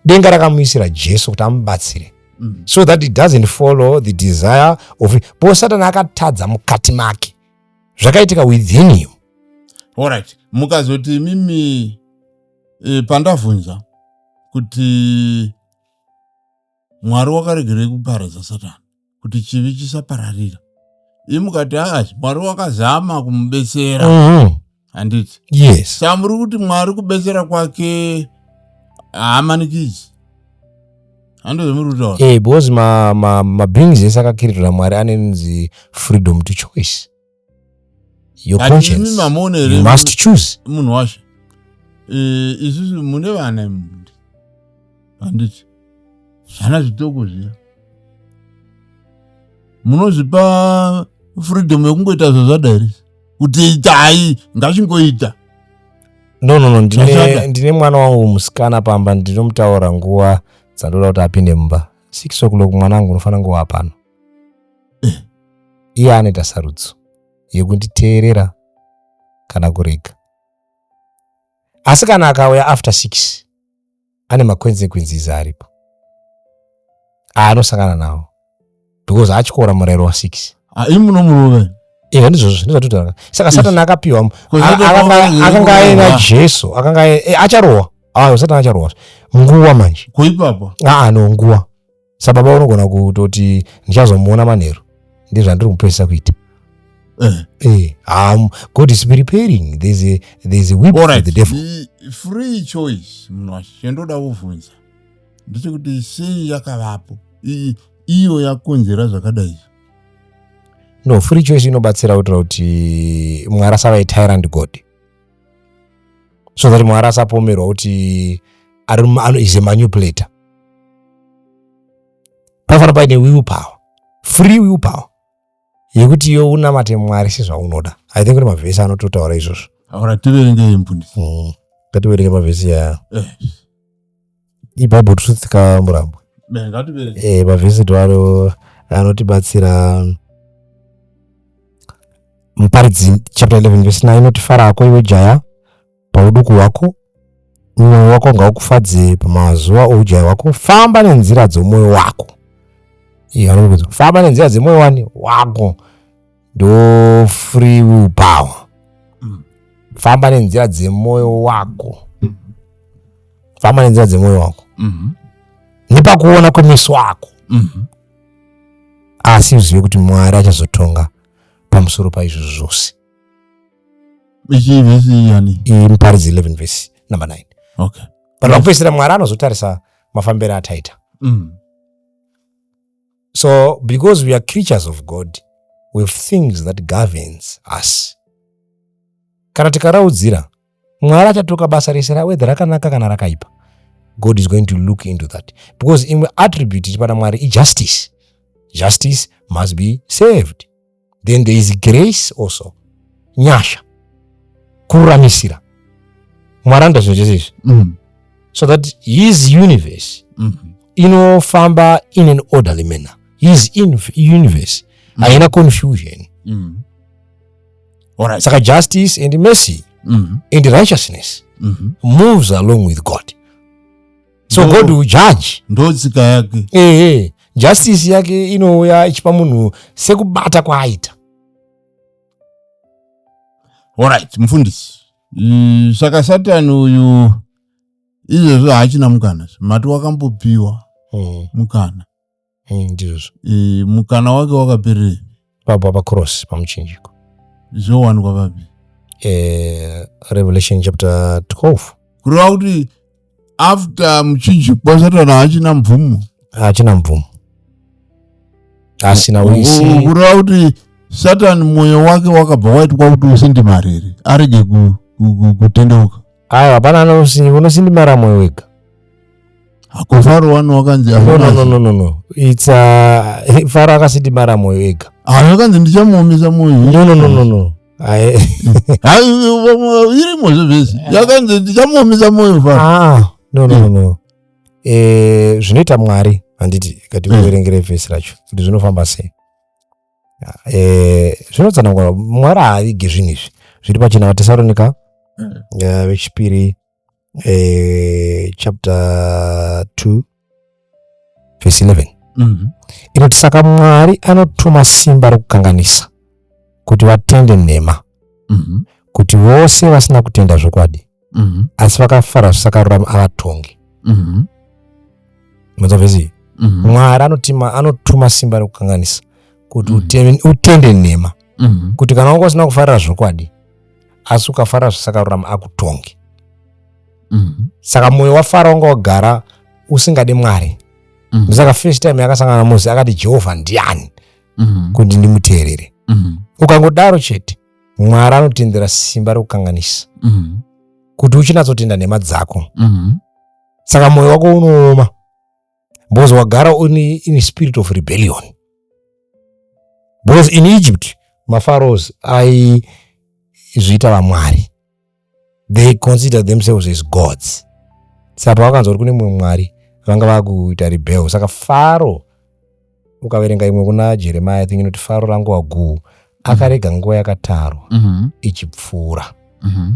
denga rakamuisira jesu kuti amubatsire mm. so that it doesn't follow the desire of bo satani akatadza mukati make zvakaitika within him orit mukazoti imimi e, pandavhunza kuti mwari wakaregerei kuparadza satani kuti chivi chisapararira imukati aa mwari wakazama kumubetsera mm -hmm. handiti yes saka muri kuti mwari kubetsera kwake haamanikidzi handozomurutaura eh, because mabrings ese akakiririra mwari anenzi freedom to choice your conscience you must choose munhu washe eh, isusu mune vana imundi handiti zvana zvitoko zviya munozvipa freedom yekungoita zvazvadairisa kuti itai ngachingoita no no no ndine, ndine mwana wangu musikana pamba ndinomutaura nguva dzandoda kuti apinde mumba six o'clock mwana wangu unofanira nguva pano eh. iye anoita sarudzo yekunditeerera kana kurega asi kana akauya after six ane maconsequences aripo aanosangana nawo because atyora murayiro wa six ah, imi muno muruve ehe ndizvozvo ndizvatotanga saka satani akapiwa akanga aina jesu akanga eh, acharohwa ayo satani acharohwa nguwa manje kuipapa aa ah, ah, no nguwa sababa unogona kutoti ndichazomuona manheru ndizvandiri kupedzisa kuita Eh. Eh, um, God is preparing. There's a there's a whip All for right. the devil. Ni- free choice mnwashi chandoda kuvhunza ndechekuti sei yakavapo I- iyo yakonzera zvakadai izvi No, free choice inobatsira kuitira kuti mwari asava tyrant God. So that mwari asapomerwa kuti ari mu- ano- is a manipulator. panofanira paine will power free will power yekuti iyo unamate mwari sezvaunoda i think kuti mavhesi anototaura izvozvo aura tiverengei mfundisi mm. ngativerenge mavhesi ya eh. ibhaibheri tusitikamurambo eh, mavhesi toaro anotibatsira muparidzi chapter 11 vesi 9 inoti fara ako iwe jaya pauduku hwako mwoyo wako ngaukufadze pamazuva oujaya hwako famba nenzira dzomwoyo wako anokuti famba nenzira dzemwoyo wani wako ndo free will power mm. famba nenzira dzemwoyo wako famba nenzira dzemwoyo wako mm-hmm. nepakuona kwemeso ako mm-hmm. asi uzive kuti mwari achazotonga pamusoro paizvozvo zvose ichii vhesi iyi yani iyi muparidzi 11 vhesi number 9 okay but pakupedzisira mwari anozotarisa mafambiro ataita mm. so because we are creatures of god we have things that governs us kana tikaraudzira mwari achatoka basa rese rawedha rakanaka kana rakaipa god is going to look into that because imwe attribute iri pana mwari ijustice justice must be saved then there is grace also nyasha kururamisira mwari anoda zvinhu zvese izvi mm. so that his universe mm -hmm. inofamba in an orderly manner his universe mm. haina mm. confusion mm. Alright. saka justice and mercy Mhm. and righteousness Mhm. moves along with god so No. god will judge ndotsika yake ehe justice yake inouya ichipa munhu sekubata kwaaita alright mufundisi Mm, saka satani uyu izvezvo haachina mukana mati wakambopiwa mukana eh, ndizvo e, mukana wake wakapererei pabwa pacross pamuchinjiko zvowanikwa papi e, revelation chapter 12 kureva kuti after muchinjiko kwasatana hachina mvumo hachina mvumo asina wisi kureva kuti satani mwoyo wake wakabva waitwa kuti usindimari here arege kutendeuka Ayo hapana anosinyi unosindimara moyo wega. Hako faro wani wakanzi no, no, no, no, no, no. It's uh, faro akasindimara moyo ega. Ayo akanzi ndichamuomesa moyo. No, no, no, no, no. irimo zvevesi yakanzi ndichamuomesa moyo faro. Ah, no, no, no, no. Eh, zvinoita mwari handiti kati kuverengere vhesi racho kuti zvinofamba sei eh, zvinotsanangura mwari haavige zvinhu izvi zviri pachina vatesaronika mm. eh, vechipiri eh, chapter 2 verse 11 mm-hmm. inoti saka mwari anotuma simba rokukanganisa kuti vatende nhema mm-hmm. kuti vose vasina kutenda zvokwadi mm -hmm. asi vakafara zvisakarurama avatongi mm -hmm. mm -hmm. mwari anotima anotuma simba rekukanganisa kuti mm -hmm. utende nhema mm -hmm. kuti kana wanga usina kufarira zvokwadi asi ukafara zvisakarurama akutongi mm -hmm. saka mwoyo wafara wanga wagara usingadi mwari mm -hmm. saka first time yakasangana mosi akati jehovha ndiani mm -hmm. kuti ndimuteerere mm -hmm. ukangodaro chete mwari anotendera simba rekukanganisa mm. kuti uchinatsotenda nhema dzako mm. saka mwoyo wako unooma because wagara uni in spirit of rebellion because in egypt mafaros aizviita vamwari they consider themselves as gods saka pavakanzwa kuti kune mumwe mwari vanga vakuita rebel saka faro ukaverenga imwe kuna jeremiya think inoti faro rangu waguu akarega nguva yakatarwa mm -hmm. ichipfuura mm -hmm.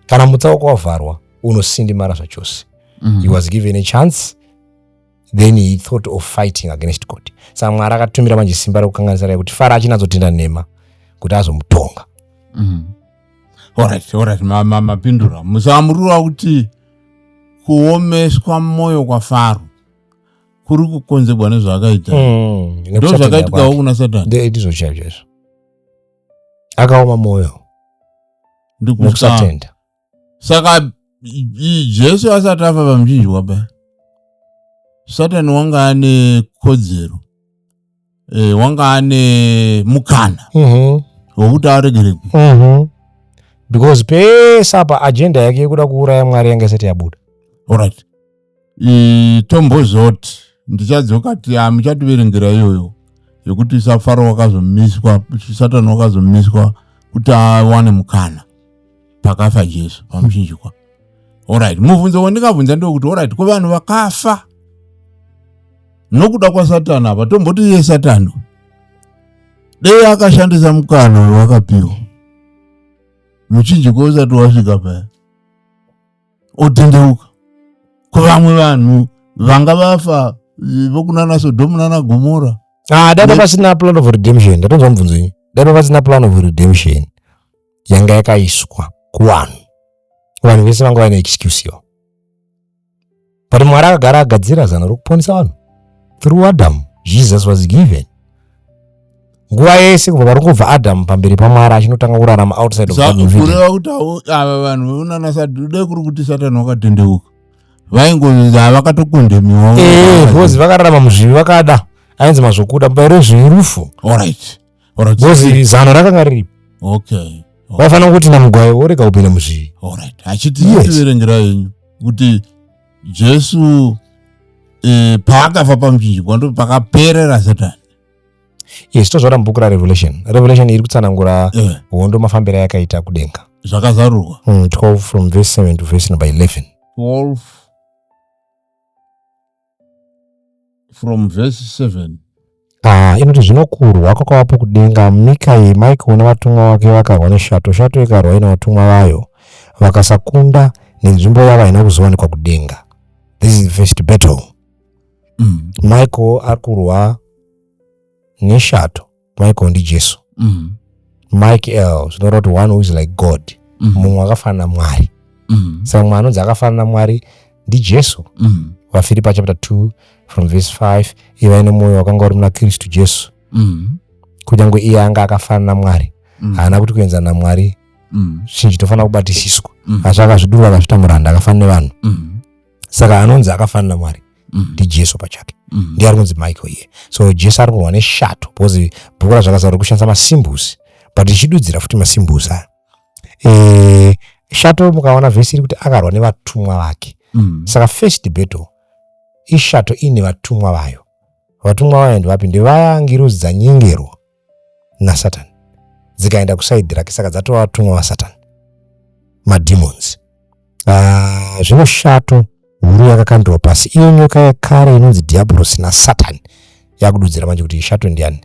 kana mutsauko wavharwa unosindimara zvachose mm -hmm. he was given a chance then he thought of fighting against god saka mwari akatumira manje simba rekukanganisa raye kuti fara achinazotenda nhema kuti azomutonga mm. orit orit mapindura musamurura kuti kuomeswa mwoyo kwafaro kuri kukonzegwa nezvaakaita mm, ndo zvakaitikawo kuna satanndizvo chaivo chaizvo akaoma mwoyo ndikusatenda saka jesu asati afa pamuchinjwa pa satani wanga ane kodzero e, wanga ane mukana mhm. wokuti mm -hmm. aregerekwe mm -hmm. because pese apa ajenda yake yekuda kuuraya mwari yanga isati yabuda orit tombozoti ndichadzoka ti hamuchativerengera iyoyo yekuti safaro wakazomiswa satani wakazomiswa kuti awane mukana pakafa jesu pamuchinjikwa orit mubvunzo wandingabvunza ndewokuti orit ko vanhu vakafa nokuda kwasatani apa tomboti iye satani dei akashandisa mukana wewakapiwa muchinjikwa usati wasvika paya otendeuka kuvamwe vanhu vanga vafa vokunana sodhomu nana gomora ah, dai papasina plan of redemption ndatonzwa mubvunzo inyi dai papasina plan of redemption yanga yakaiswa kuvanhu vanhu vese vanga vaine excuse yo but mwari akagara agadzira zano rokuponesa vanhu through adam jesus was given nguva yese kubva pari kubva adamu pamberi pamwari achinotanga kurarama outside of Garden of Eden. kureva kuti havo- ava vanhu veunana satani dai kuri kuti satani wakatendeuka vaingonzi havakatokondemiwa Eh, because vakararama muzvivi vakada ainzi mazvokuda mubayiro wezvivi rufu Alright. Alright. because zano rakanga riripo Okay. vaifanira kuti namugwayi worega kupinda muzvivi Alright. Achiti Yes. tiverengera yenyu kuti Jesu eh, paakafa pamuchinjikwa ndipo pakaperera satani. yes tozvaona mubhuku rarevelation revelation iri kutsanangura eh. hondo mafambiro ayakaita kudenga zvakazarurwa 12 hmm, from verse 7 to verse number 11 12 from verse 7 Ah, inoti zvino kurwa kwakavapo kudenga mikai maikaona vatumwa wake vakarwa neshato shato ikarwa ina vatumwa vayo vakasakunda nenzvimbo yavo haina kuzowanikwa kudenga this is the first battle mm. michael ari kurwa neshato michael ndijesu mm. mike l zvinoreva kuti one who is like god mm. mumwe mm. akafanana namwari mm. saka mumwe anonzi akafanana namwari ndijesu mm. vafiripa chapter 2 from verse 5 ivai nemwoyo wakanga uri muna kristu jesu mm. kunyange iye anga akafanana namwari mm. haana mm. kuti kuenzana namwari mm. zvinhu zvitofanira kubatisiswa mm. asi akazvidurura akazvita muranda akafanana nevanhu mm. saka anonzi akafanana mwari mm. ndijesu pachake mm. ndiye ari kunzi michael iye so jesu ari kurwa neshato because bhuku razvakazarwa kushandisa masimbusi but ichidudzira futi masimbusi aya e, shato mukaona vhesi iri kuti akarwa nevatumwa vake mm. saka first battle ishato iine vatumwa vayo vatumwa vayo ndivapi ndevaya ngiruzi dzanyengerwa nasatani dzikaenda kusaidhi rake saka dzatova vatumwa vasatani mademons uh, zvino shato huru yakakandirwa pasi iyo nyoka yekare inonzi dhiabhorosi nasatani yakududzira manje kuti ishato ndiani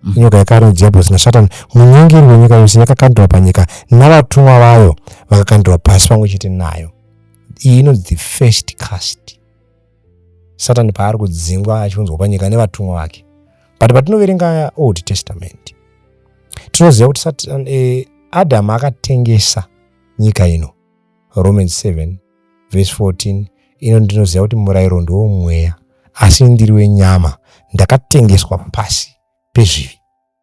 mm. nyoka yekare inonzi dhiabhorosi nasatani munyengeri wenyika yose yakakandirwa panyika navatumwa vayo vakakandirwa pasi pamwe chete nayo iyi inonzi the first cast satani paari kudzingwa achiunzwa panyika nevatumwa vake but patinoverenga old testament tinoziva kuti satani eh, adamu akatengesa nyika ino romans 7 vese 14 ino ndinoziva kuti murayiro ndiwo mweya asi ndiri wenyama ndakatengeswa pasi pezvivi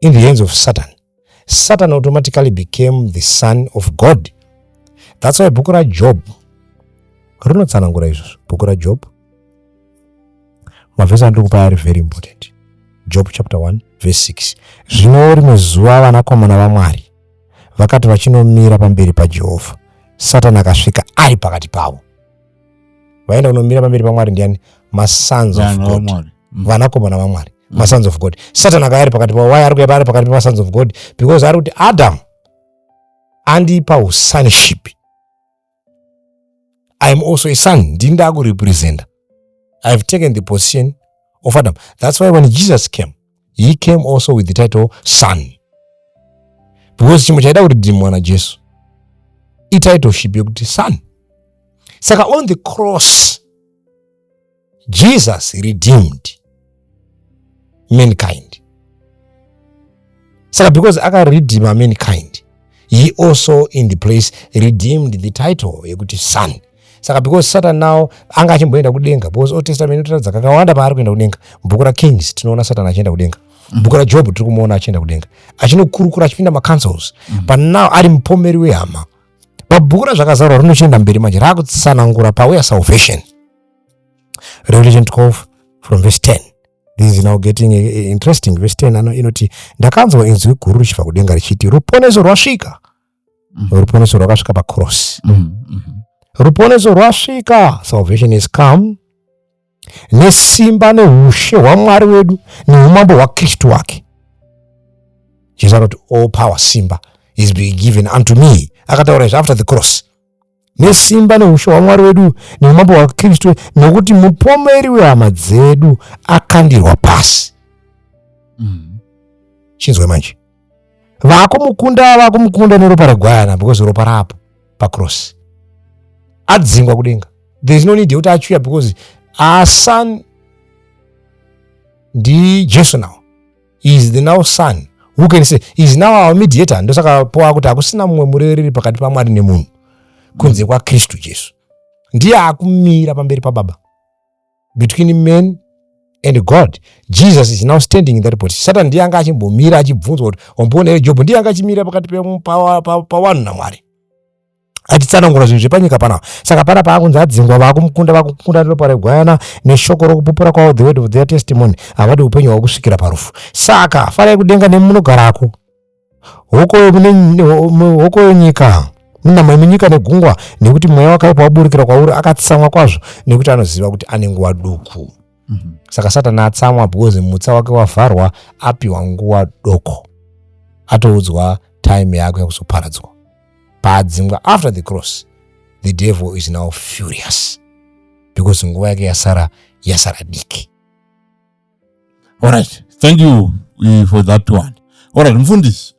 in the hands of satan satan automatically became the son of god that's why bhuku rajob rinotsanangura izvozvo bhuku rajob mavhesi andiri kupa ari very important job chapter 1 verse 6 zvino rimwe zuva vanakomana vamwari vakati vachinomira pamberi pajehovha satani akasvika ari pakati pavo vaenda kunomira pamberi pamwari ndiani masons of god mm. vanakomana vamwari mm. masons of god satan akaya ari pakati pavo waya ari kuya paari pakati pemasons of god because ari kuti adam andipa usonship iam also a son ndini ndaakurepresenta ihave taken the position of adam that's why when jesus came he came also with the title son because chimwe chaida kuti dhimwa najesu ititleship yekuti son saka on the cross jesus redeemed mankind saka because akaredima mankind he also in the place redeemed the title yekuti son saka because satan now anga achimboenda kudenga because old testament inotiratidza kakawanda paari kuenda kudenga bhuku rakings tinoona satan achienda kudenga mm-hmm. bhuku rajob tiri kumuona achienda kudenga achinokurukura achipinda macancels mm-hmm. but now ari mupomeri wehama pabhuku razvakazarwa rinochienda mberi manje raakutsanangura paweya salvation revelation 12 from verse 10 this is now getting eh, eh, interesting verse 10 ano inoti ndakanzwa inzwi guru richibva kudenga richiti ruponeso rwasvika mm. ruponeso rwakasvika pacross mm. Mm-hmm. mm mm-hmm. ruponeso rwasvika salvation is come nesimba neushe hwamwari wedu neumambo hwakristu wake jesu anoti all power simba is being given unto me akataura izvi after the cross nesimba neushe hwamwari wedu neumambo hwakristu nokuti mupomeri wehama dzedu akandirwa pasi mm. chinzwai manje vakumukunda vakumukunda neropa regwayana because ropa rapo pacross adzingwa kudenga there is no need yekuti achuya because our son ndijesu now he is the now son who can say he is now our mediator ndosaka poa kuti hakusina mumwe murevereri pakati pamwari nemunhu kunze kwakristu jesu ndiye akumira pamberi pababa between men and god jesus is now standing in that position satan ndiye anga achimbomira achibvunzwa kuti wamboona here jobho ndiye anga achimira pakati pawanhu namwari achitsanangura zvinhu zvepanyika panapa saka pana paakunzi adzingwa vakumukunda vakumukunda neropa regwayana neshoko rokupupura kwavo the word of their testimony havadi upenyu hwavo kusvikira parufu saka farai kudenga nemi munogarako hoko yenyika munama yemunyika negungwa nekuti mweya wakaipa waburikira kwauri akatsamwa kwazvo nekuti anoziva kuti ane nguva duku mm -hmm. saka satani atsamwa because mutsa wake wavharwa apiwa nguva doko atoudzwa time yako yakuzoparadzwa paadzingwa after the cross the devil is now furious because nguva yake yasara yasara diki alright thank you eh, for that one alright mfundisi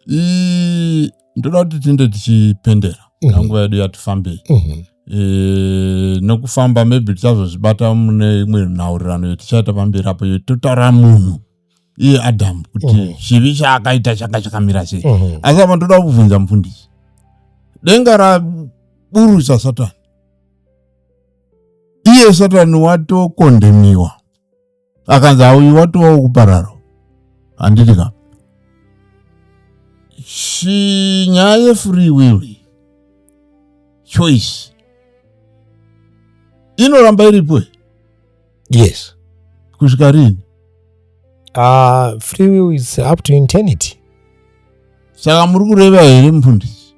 ndoda kuti tinde tichipendera mm -hmm. nguva yedu yatifambei mm -hmm. e, nokufamba maybe tichazozvibata mune imwe nhaurirano yetichaita pamberi apo yototaura munhu iye adamu kuti mm -hmm. chivi chaakaita changa chakamira sei mm -hmm. asi apa ndoda kubvunza mufundisi denga raburusa satani iye satani watokondemiwa akanzi auyu watovawo kupararo handiti ka shi nyaya yefree will choice inoramba iripo yes kusvika rini uh, ah, free will is up to internity saka muri kureva here mufundisi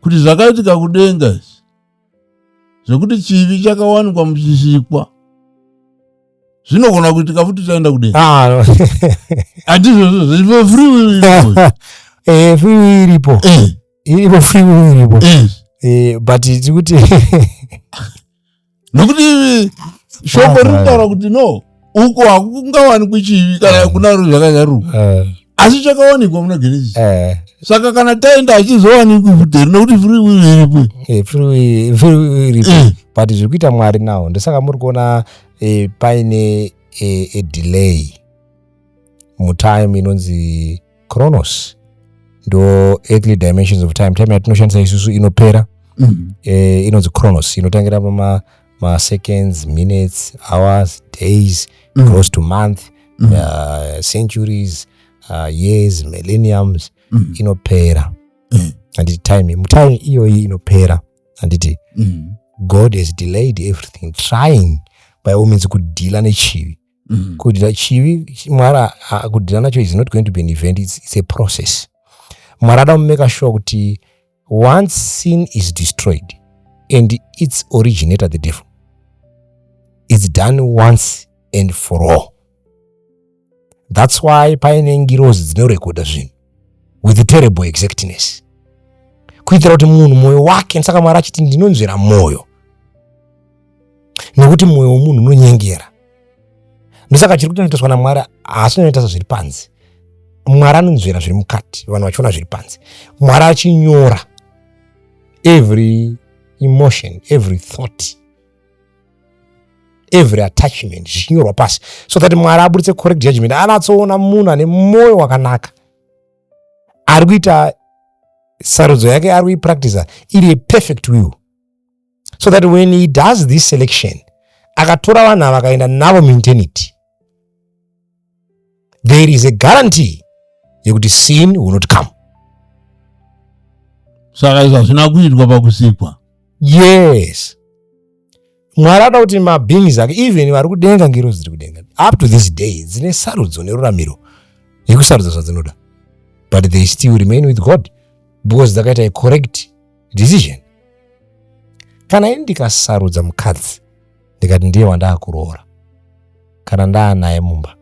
kuti zvakaitika kudenga izvi zvekuti chivi chakawanikwa muchisikwa zvinogona kuitika futi chaenda kudei ah, hatizvozvozvofriwiripoefriwi iripo iripo friwi iripo but tikuti nokuti shombo rinotaura kuti no uko hakungawanikwi chivi kana eh. kuna ro zvakazvaruka eh. asi chakawanikwa muna genesis eh. saka kana taenda achizowanikwi futeri nekuti free will iripo free will iripo but zviri kuita mwari nawo ndosaka muri kuona paine delay mutime inonzi chronos ndo earthly dimensions of time time yatinoshandisa isusu inopera mm -hmm. eh, inonzi chronos inotangira pama maseconds minutes hours days mm -hmm. close to month mm -hmm. uh, centuries uh, years millenniums mm -hmm. inopera mm -hmm. anditi time mutime iyoyi inopera anditi mm -hmm. god has delayed everything trying by all means kudhila nechivi mm. kudya chivi mwari kudhila nacho is not going to be an event it's, it's a process mwari ada kumeka sure kuti once sin is destroyed and its originator the devil its done once and for all that's why paine ngirozi dzinorekodha zvinhu with terrible exactness kuitira kuti munhu mwoyo wake saka mwari achiti ndinonzvera mwoyo nekuti mwoyo wemunhu unonyengera ndosaka chiri kutonoitoswa namwari haasi unoita sezviri panzi mwari anonzvera zviri mukati vanhu vachiona zviri panzi mwari achinyora every emotion every thought every attachment zvichinyorwa pasi so that mwari aburitse correct judgment anatsoona munhu ane mwoyo wakanaka ari kuita sarudzo yake ari kuipractisa iri yeperfect will so that when he does this selection akatora vanhu ava akaenda navo muintenity there is a guarantee yekuti sin will not come saka izvo hazvina kuitwa pakusikwa yes mwari anoda kuti mabeings ake even vari kudenga ngiro dziri kudenga up to this day dzine sarudzo neruramiro yekusarudza zvadzinoda but they still remain with god because dzakaita a correct decision kana ini ndikasarudza mukadzi ndikati ndiye wandaakuroora kana ndaanaye mumba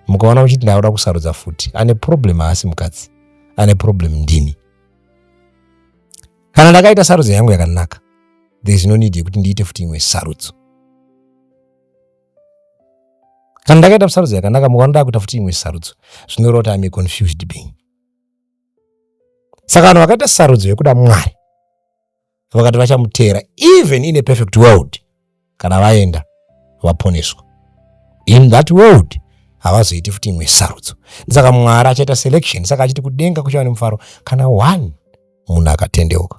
mukaona muchiti ndaoda kusarudza futi ane problem haasi mukadzi ane problem ndini kana ndakaita sarudzo yangu yakanaka there is no need yekuti ndiite futi imwe sarudzo kana ndakaita sarudzo yakanaka mukaona ndakuita futi imwe sarudzo zvinoreva kuti ame confused being saka vanhu vakaita sarudzo yekuda mwari vakati vachamuteera even in a perfect world kana vaenda vaponeswa in that world havazoiti futi imwe sarudzo ndisaka mwari achaita selection saka achiti kudenga kuchava nemufaro kana one munhu akatendeuka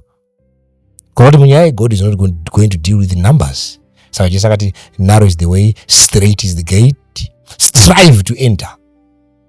kunoti munyaya yegod is not going to deal with numbers saka jesu akati narrow is the way straight is the gate strive to enter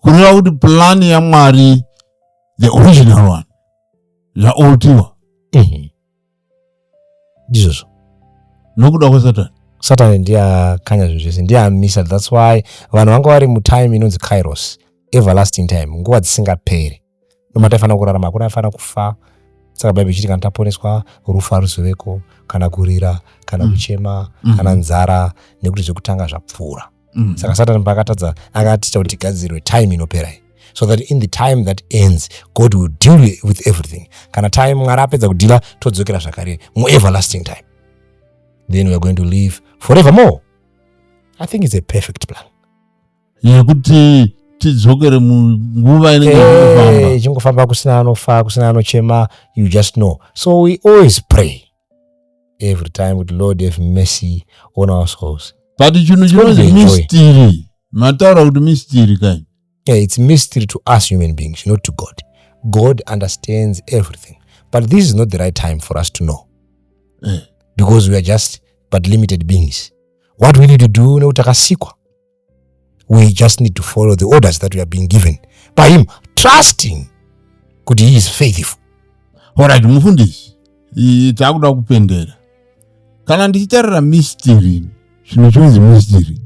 kureva kuti plani yamwari the original one zvaoltiwa mhm. ndizvozvo nokuda kwesatani satani ndiye akanya zvinhu zvese ndiye amisa thats why vanhu vanga vari mutime inonzi kairos everlasting time nguva dzisingaperi nomataifanira kurarama hakuna afanira kufa saka bhaibheri ichiti kana taponeswa rufu haruzoveko kana kurira kana mm. kuchema mm. kana nzara nekuti zvekutanga zvapfuura mm. saka satani paakatadza akatiita kuti tigadzirwe time inopera iyi so that in the time that ends god will deal with everything kana time mwari apedza kudhila todzokera zvakare mueverlasting time then weare going to live forever more i think it's a perfect plan yekuti tidzokere munguva inenge eh, ichingofamba kusina anofa kusina anochema you just know so we always pray every time kuti lord have mercy on our souls but chinhu chinonzi mystery mataura kuti mystery kani yeah, it's mystery to us human beings not to god god understands everything but this is not the right time for us to know eh. because we are just but limited beings what we need to do nekuti takasikwa we just need to follow the orders that we are being given by him trusting kuti he is faithful orit mufundisi takuda kupendera kana ndichitarira mistiri zvinhu chinonzi mistiri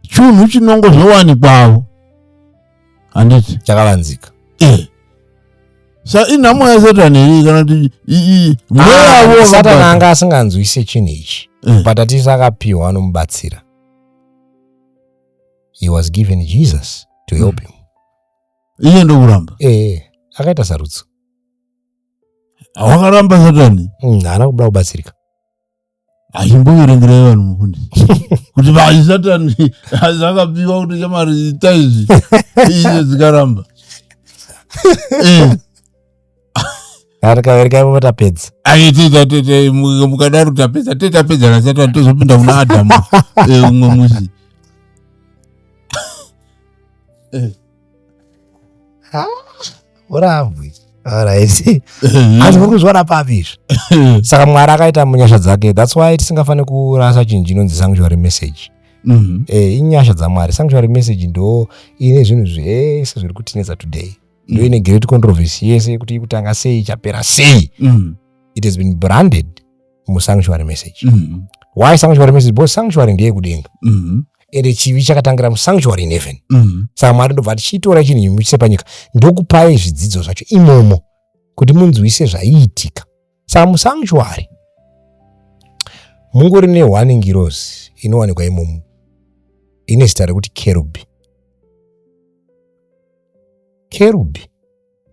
chunhu chinongo zvowanikwawo handiti chakavanzika e sa inhamo yasatani iri kana kuti mweya ah, wo satani anga asinganzwise chinhu ichi eh. but atisi akapiwa anomubatsira he was given jesus to help him iye ndokuramba ee akaita sarudzo wakaramba satani Mm, haana kuda kubatsirika achimboverengerai vanhu mufundisi kuti vanhu satani zvakapiwa kuti shamwari ita izvi izvo dzikaramba Eh, arikavereka ivo vatapedza mukadaro tapedza te tapedza nasatan tozopinda kuna adamu eh, umwe musi eh. urambwi ariht asi muri kuzviona papi izvi saka mwari akaita munyasha dzake thats why tisingafaniri kurasa chinhu chinonzi sanctuary message mm-hmm. eh, inyasha dzamwari sanctuary message ndo ine zvinhu zvese zviri kutinetsa today ndoine great controversy yese yekuti ikutanga sei ichapera sei mm. it has been branded musanctuary message mm. why sanctuary message because sanctuary ndeye kudenga mm. ende chivi chakatangira musanctuary in heaven mm. saka mwari ndobva ati chitora chinhu imuchise panyika ndokupai zvidzidzo zvacho imomo kuti munzwise zvaiitika Some sanctuary mungori ne one ngirozi inowanikwa imomo ine zita rekuti kerubi kerubi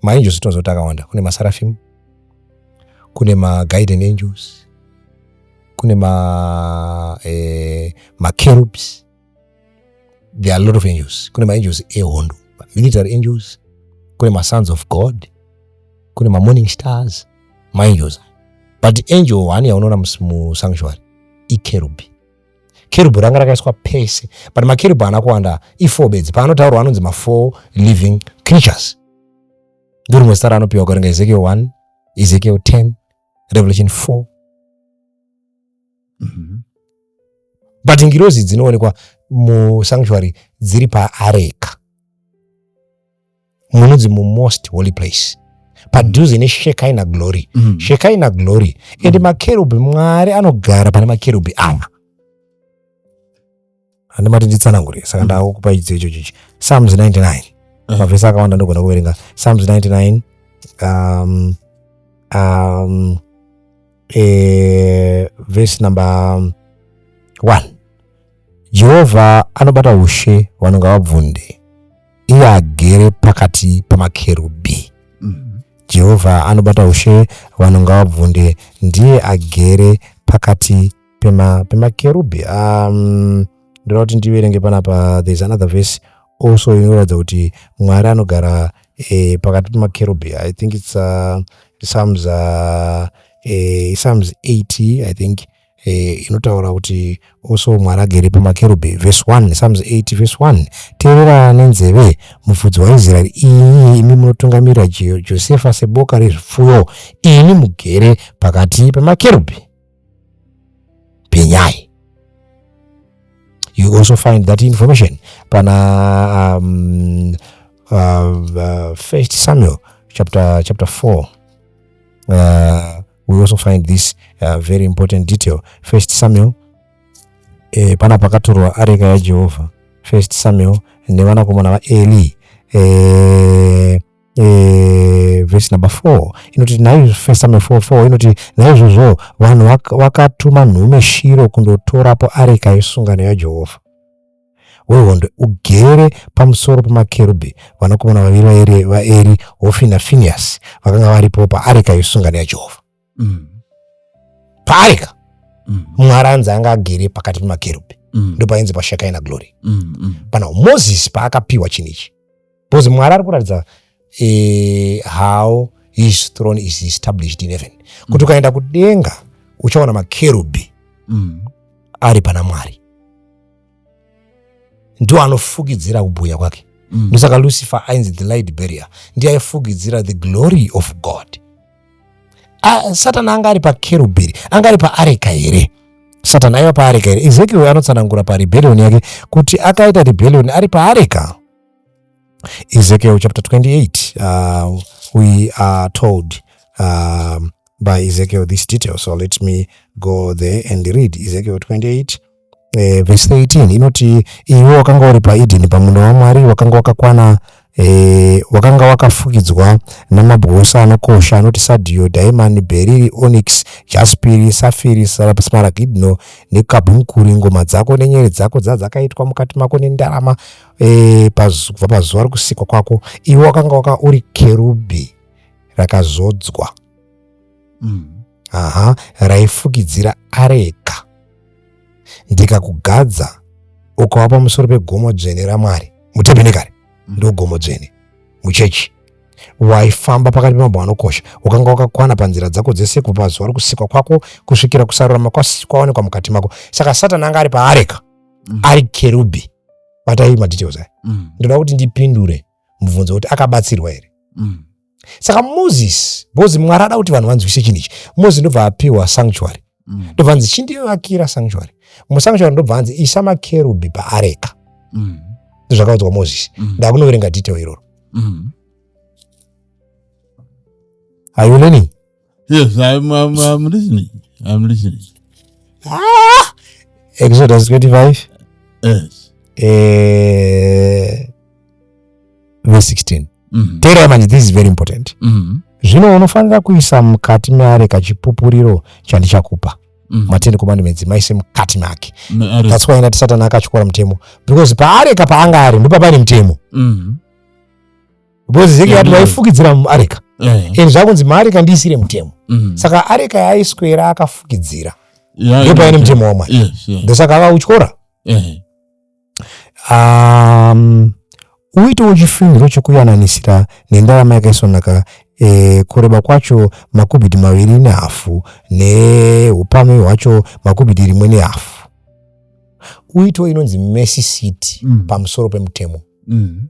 maangels tinoziva kuti akawanda kune masarafim kune maguiden angels kune ma eh, makerubs there are a lot of angels kune maangels ehondo military angels kune masons of god kune mamorning stars maangels but angel one yaunoona musanctuary ikerubi kerubu ranga rakaiswa pese but makerubu haana kuwanda ifour bedzi paanotaurwa anonzi mafour living creatures ndorimwe zita raanopiwa ukaringa ezekiel 1 ezekiel 10 revelation 4 mm -hmm. but ngirozi dzinoonekwa musanctuary dziri paareka munonzi mumost holy place padhuze neshekaina glory mm -hmm. shekaina glory and mm -hmm. makerubhi mwari anogara pane makerubhi ava andimati nditsanangure saka ndakukupai chidzidzo ichocho ichi psalms 99 Mhm. mavhesi akawanda ndogona kuverenga psalms 99 um, um, eh, vhesi number um, one jehovha anobata ushe vanonga vabvunde iye agere pakati pamakerubhi Mm. jehovha anobata ushe vanonga vabvunde ndiye agere pakati pema pemakerubhi um, ndoda kuti ndiverenge panapa there's another verse also inoratidza kuti mwari anogara eh, pakati pemakerubhi i think its uh, psalms uh, eh, psalms 80 i think eh, inotaura kuti also mwari agere pamakerubhi verse 1 psalms 8 verse 1 teerera nenzeve mufudzi waisraeri iyi imi munotungamirira josefa seboka rezvipfuyo ini mugere pakati pemakerubhi penyai you also find that information pana um, uh, uh, first samuel chapter chapter 4 uh, we also find this uh, very important detail first samuel eh, pana pakatorwa areka yajehovha first samuel nevanakomana vaeli eh, e, vhesi number four inoti naivhesi number four four inoti naizvozvo vanhu vakatuma vaka nhume shiro kundotorapo areka yesungano yajehovha wehondo ugere pamusoro pemakerubhi vanakomana vaviri vaeri hofina finiyasi vakanga varipo paareka yesungano yajehovha mm. paareka mm. mwari anzi anga agere pakati pemakerubhi mm. ndopainzi pashekaina glory mm, mm. pana moses paakapiwa chinhu ichi bcause mwari ari kuratidza eh, how his throne is established in heaven mm. kuti ukaenda kudenga uchaona makerubhi mm. ari pana mwari ndiwo anofukidzira kubhuya kwake mm. ndosaka lucifer ainzi the light barrier ndiye aifukidzira the glory of god ah, satani anga ari pakerubhiri anga ari paareka here satani aiva paareka here ezekiel anotsanangura parebellion yake kuti akaita rebellion ari paareka ezekiel chapter 28 uh, we are told um, by ezekiel this detail so let me go there and read ezekiel 28 eh, vhesi 18 inoti iwe wakanga uri paedheni pamunda wamwari wakanga wakakwana eh, wakanga wakafukidzwa namabwe ose anokosha anoti sadhiyo dhaimani bheriri onix jaspiri safiri smaragidno nekabhumkuri ngoma dzako nenyere dzako dzadzakaitwa mukati mako nendarama eh, kubva pazuva rokusikwa kwako iwe wakanga waka uri kerubhi rakazodzwa mm. aha raifukidzira areka ndikakugadza ukava pamusoro pegomo dzvene ramwari mutebenekare ndogomo dzvene muchechi waifamba pakati pemabho anokosha ukanga wakakwana panzira dzako dzese kubva pazuva rokusikwa kwako kusvikira kusarurama kwawanikwa mukati mako saka satani anga ari paareka mm. ari kerubhi batai madetails aya mm. ndoda kuti ndipindure mubvunzo wekuti akabatsirwa here mm. saka moses because mwari ada kuti vanhu vanzwise chinhu ichi moses ndobva apiwa sanctuary mm. ndobva anzi chindivakira sanctuary musanctuary ndobva anzi isa makerubhi paareka mm. zvakaudzwa moses mm. ndakunoverenga detail iroro mm. are you learning yes I'm, I'm, I'm listening I'm listening ah! exodus 25 yes eh, verse 16 mm -hmm. teerai manje this is very important mm -hmm zvino unofanira kuisa mukati meare kachipupuriro chandichakupa mm. mateni komandimedzi maise mukati make thats why ndati satani akatyora mutemo because paareka paanga ari ndopapaine mutemo mm. because zeki yati vaifukidzira muareka and zvakunzi maareka ndiisire mutemo mm. saka areka yaiswera akafukidzira ndopaine mutemo wamwari ndosaka akautyora um, uitewo chifiniro chokuyananisira nendarama yakaisonaka e, kureba kwacho makubhiti maviri nehafu neupame hwacho makubhiti rimwe nehafu uitewo inonzi mercy city mm. pamusoro pemutemo mm.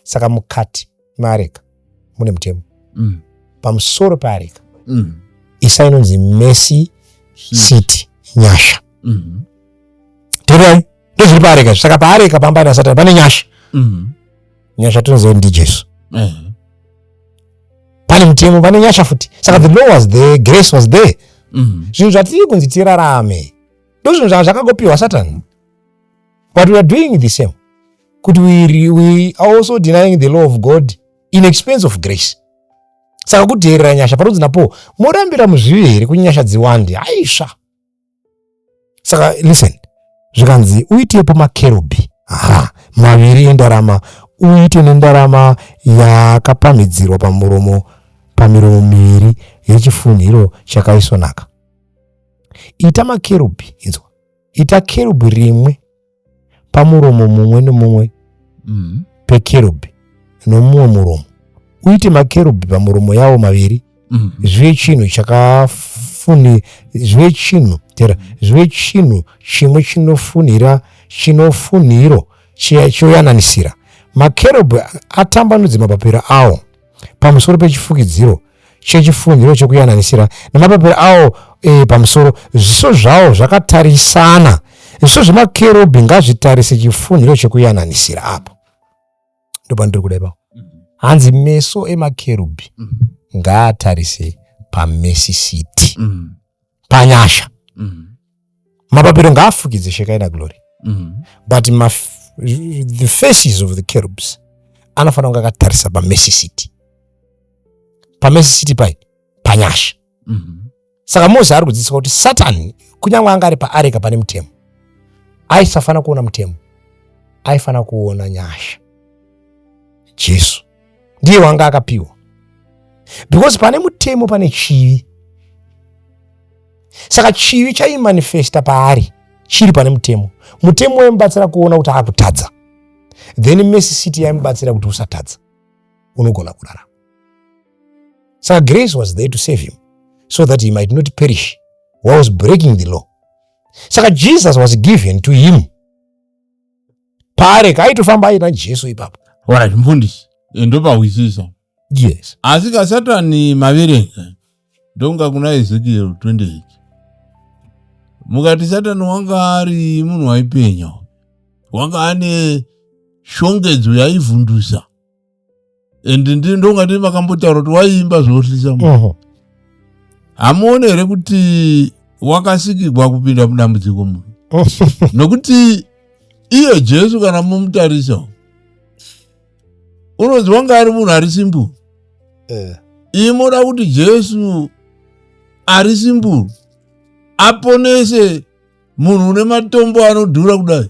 saka mukati meareka mune mutemo mm. pamusoro peareka mm. isa inonzi mesi city nyasha mm. terai ndozviri paareka saka paareka pamba nasatani pane nyasha mm. nyasha tinoziva ndi jesu mm. pane mutemo pane nyasha futi saka the law was there grace was there mm. zvinhu zvatiri kunzi tirarame ndozvinhu zvanga zvakagopiwa satani but we are doing the same kuti we, we are also denying the law of god in expense of grace saka kudheerera nyasha parudzi napo morambira muzvivi here kuti nyasha dziwande haisva saka listen zvikanzi uitepo makerubhi aha maviri endarama uite nendarama yakapamhidzirwa pamuromo pamiromo miviri yechifunhiro chakaisvonaka ita makerubhi inzwa ita kerubhi rimwe pamuromo mumwe nomumwe mm. pekerubhi nomumwe muromo uite makerubhi pamuromo yawo maviri mm. zvive chinhu chakafuni zvive chinhu tera zvive chinhu chimwe chinofunhira chinofunhiro choyananisira makerubhi atambanudze mapapiro awo pamusoro pechifukidziro chechifunhiro chekuyananisira nemapapiro awo e, pamusoro zviso zvawo zvakatarisana zviso zvemakerubhi ngazvitarise chifunhiro chekuyananisira apo ndopandiri kuda ipapo mm-hmm. hanzi meso emakerubhi mm-hmm. ngaatarise pamesisiti mm-hmm. panyasha mapapiro ngaafukidze shekaina glory mm -hmm. but maf the faces of the carubs anofanira kunge akatarisa pamesi city pamesi city pai panyasha mm -hmm. saka mose ari kudzidzisa kuti satani kunyange anga ari paareka pane mutemo aisafanira kuona mutemo aifanira kuona nyasha jesu ndiye wanga akapiwa because pane mutemo pane chivi saka chivi chaimanifesta paari chiri pane mutemo mutemo waimubatsira kuona kuti akutadza then mesi city yaimubatsira kuti usatadza unogona kurarama saka grace was there to save him so that he might not perish was breaking the law saka jesus was given to him pare kaitofamba aina jesu ipapo orit mfundisi eh, ndopahwisisa yes asi kasatani maverenga ndonga kuna ezekiel 28 mukati satani wanga ari munhu waipenya wanga ane shongedzo yaivhundusa and ndonga ndii makambotaura kuti waiimba zvoohlisa mu hamuone here kuti wakasikigwa kupinda mudambudziko mu nokuti iye jesu kana mumutarisa unonzi wanga ari munhu ari simburu eh. iyi moda kuti jesu ari simburu aponese munhu une matombo anodhura kudai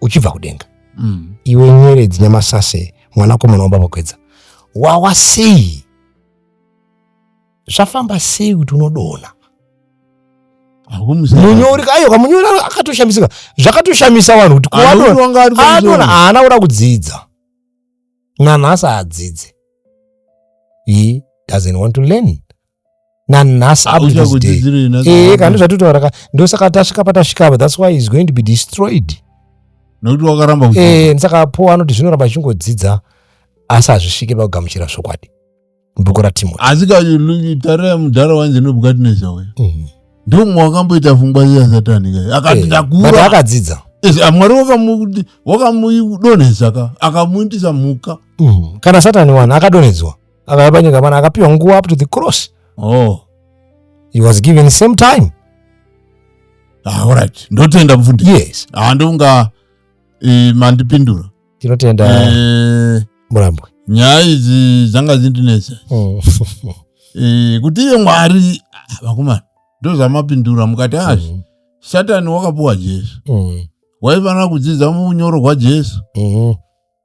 uchibva kudenga mm. iwe nyeredzi nyamasase mwanakomana wababa kwedza wawa sei zvafamba sei kuti unodona munyori ayoka munyori akatoshamisika zvakatoshamisa vanhu kuti kuadona haana kuda kudzidza nanhasi adzidze he doesn't want to learn nanhasi up to this day ee kana ndozvatitaura ka ndosaka tasvika patasvika apa that's why is going to be destroyed nokuti wakaramba ee eh, saka po anoti zvinoramba achingodzidza asi hazvisvike pakugamuchira zvokwadi bhuku ratimoti asi katare yamudhara wanzi nobukatinesha uya mhm. ndomwe wakamboita pfungwa ziya satani kai akati eh, ndakura akadzidza ah, mwari wakamudonhesa ka akamuindisa mhuka mhm. kana satani wani akadonhedzwa akauya panyika pano akapiwa nguva up to the cross oh. he was given same time ah, right ndotenda mfundisi yes ah, ndonga e, mandipindura tinotenda e, murambwe nyaya idzi dzanga dzindinetsa mm. e, kuti iye mwari ah, vakomana ndozvamapindura mukati azvi ah, mm. satani wakapuwa jesu mm. waifanira kudzidza munyoro gwajesu mm.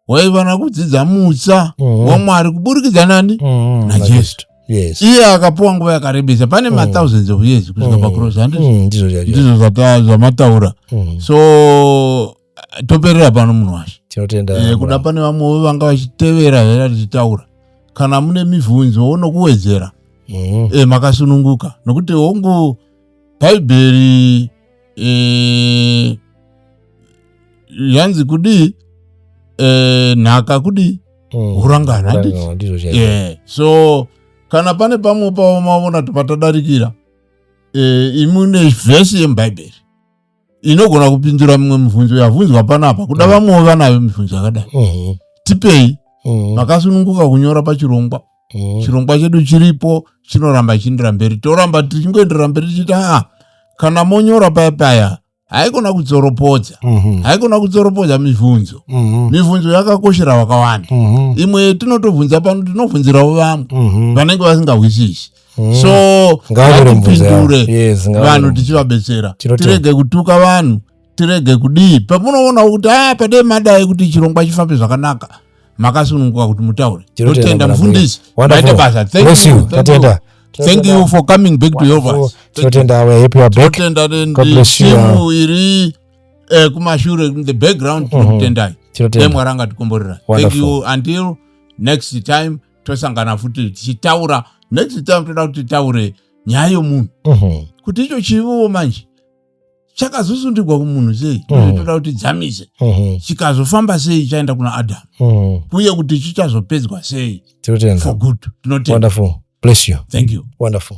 waifanira kudzidza mutsa mm. wamwari kuburikidza nani mm. najesu yes. iye akapuwa nguva yakarebesa pane mm. mathousands of years kusvika mm. pacross handiti mm. ndizvo zvamataura mm. so toperera pano munhu washe tinotenda eh, kuda pane vamwewo vanga vachitevera hera tichitaura kana mune mibvunzo unokuwedzera mm. eh, makasununguka nokuti hongu bhaibheri eh, yanzi kudii eh, nhaka kudii mm. hurangana eh, so kana pane pamwe pavo mavona kuti patadarikira eh, imu nevhesi yemubhaibheri inogona kupindura mimwe mibvunzo yavhunzwa panapa kuda mm. vamwewo vanayo mibvunzo yakadai mm-hmm. tipei mm-hmm. makasununguka kunyora pachirongwa mm. chirongwa chedu chiripo chinoramba chiendera mberi toramba tichingoendera mberi tichiti aa kana monyora paya paya haikona kudzoropodza mhm. haikona kudzoropodza mibvunzo mhm. mibvunzo yakakoshera vakawanda mhm. imwe yetinotobvunza pano tinobvunzirawo vamwe vanenge vasingahwisisi so ngatipindure vanhu tichivabetsera tirege kutuka vanhu tirege kudii pamunoonawo kuti a ah, padei madai kuti chirongwa chifambe zvakanaka makasununguka kuti mutaure totenda mufundisi maita basa thank you for coming back to yovas timu iri eh, kumashure in the background mhm. tinokutendai dai mwari angatikomborera thank you until next time tosangana futi tichitaura next time toda kuti titaure nyaya yomunhu mhm. kuti icho chiviwo manje chakazosundigwa kumunhu sei tozitoda kuti dzamise chikazofamba sei chaenda kuna adam uye kuti chichazopedzwa sei for good tinotenda bless you thank you wonderful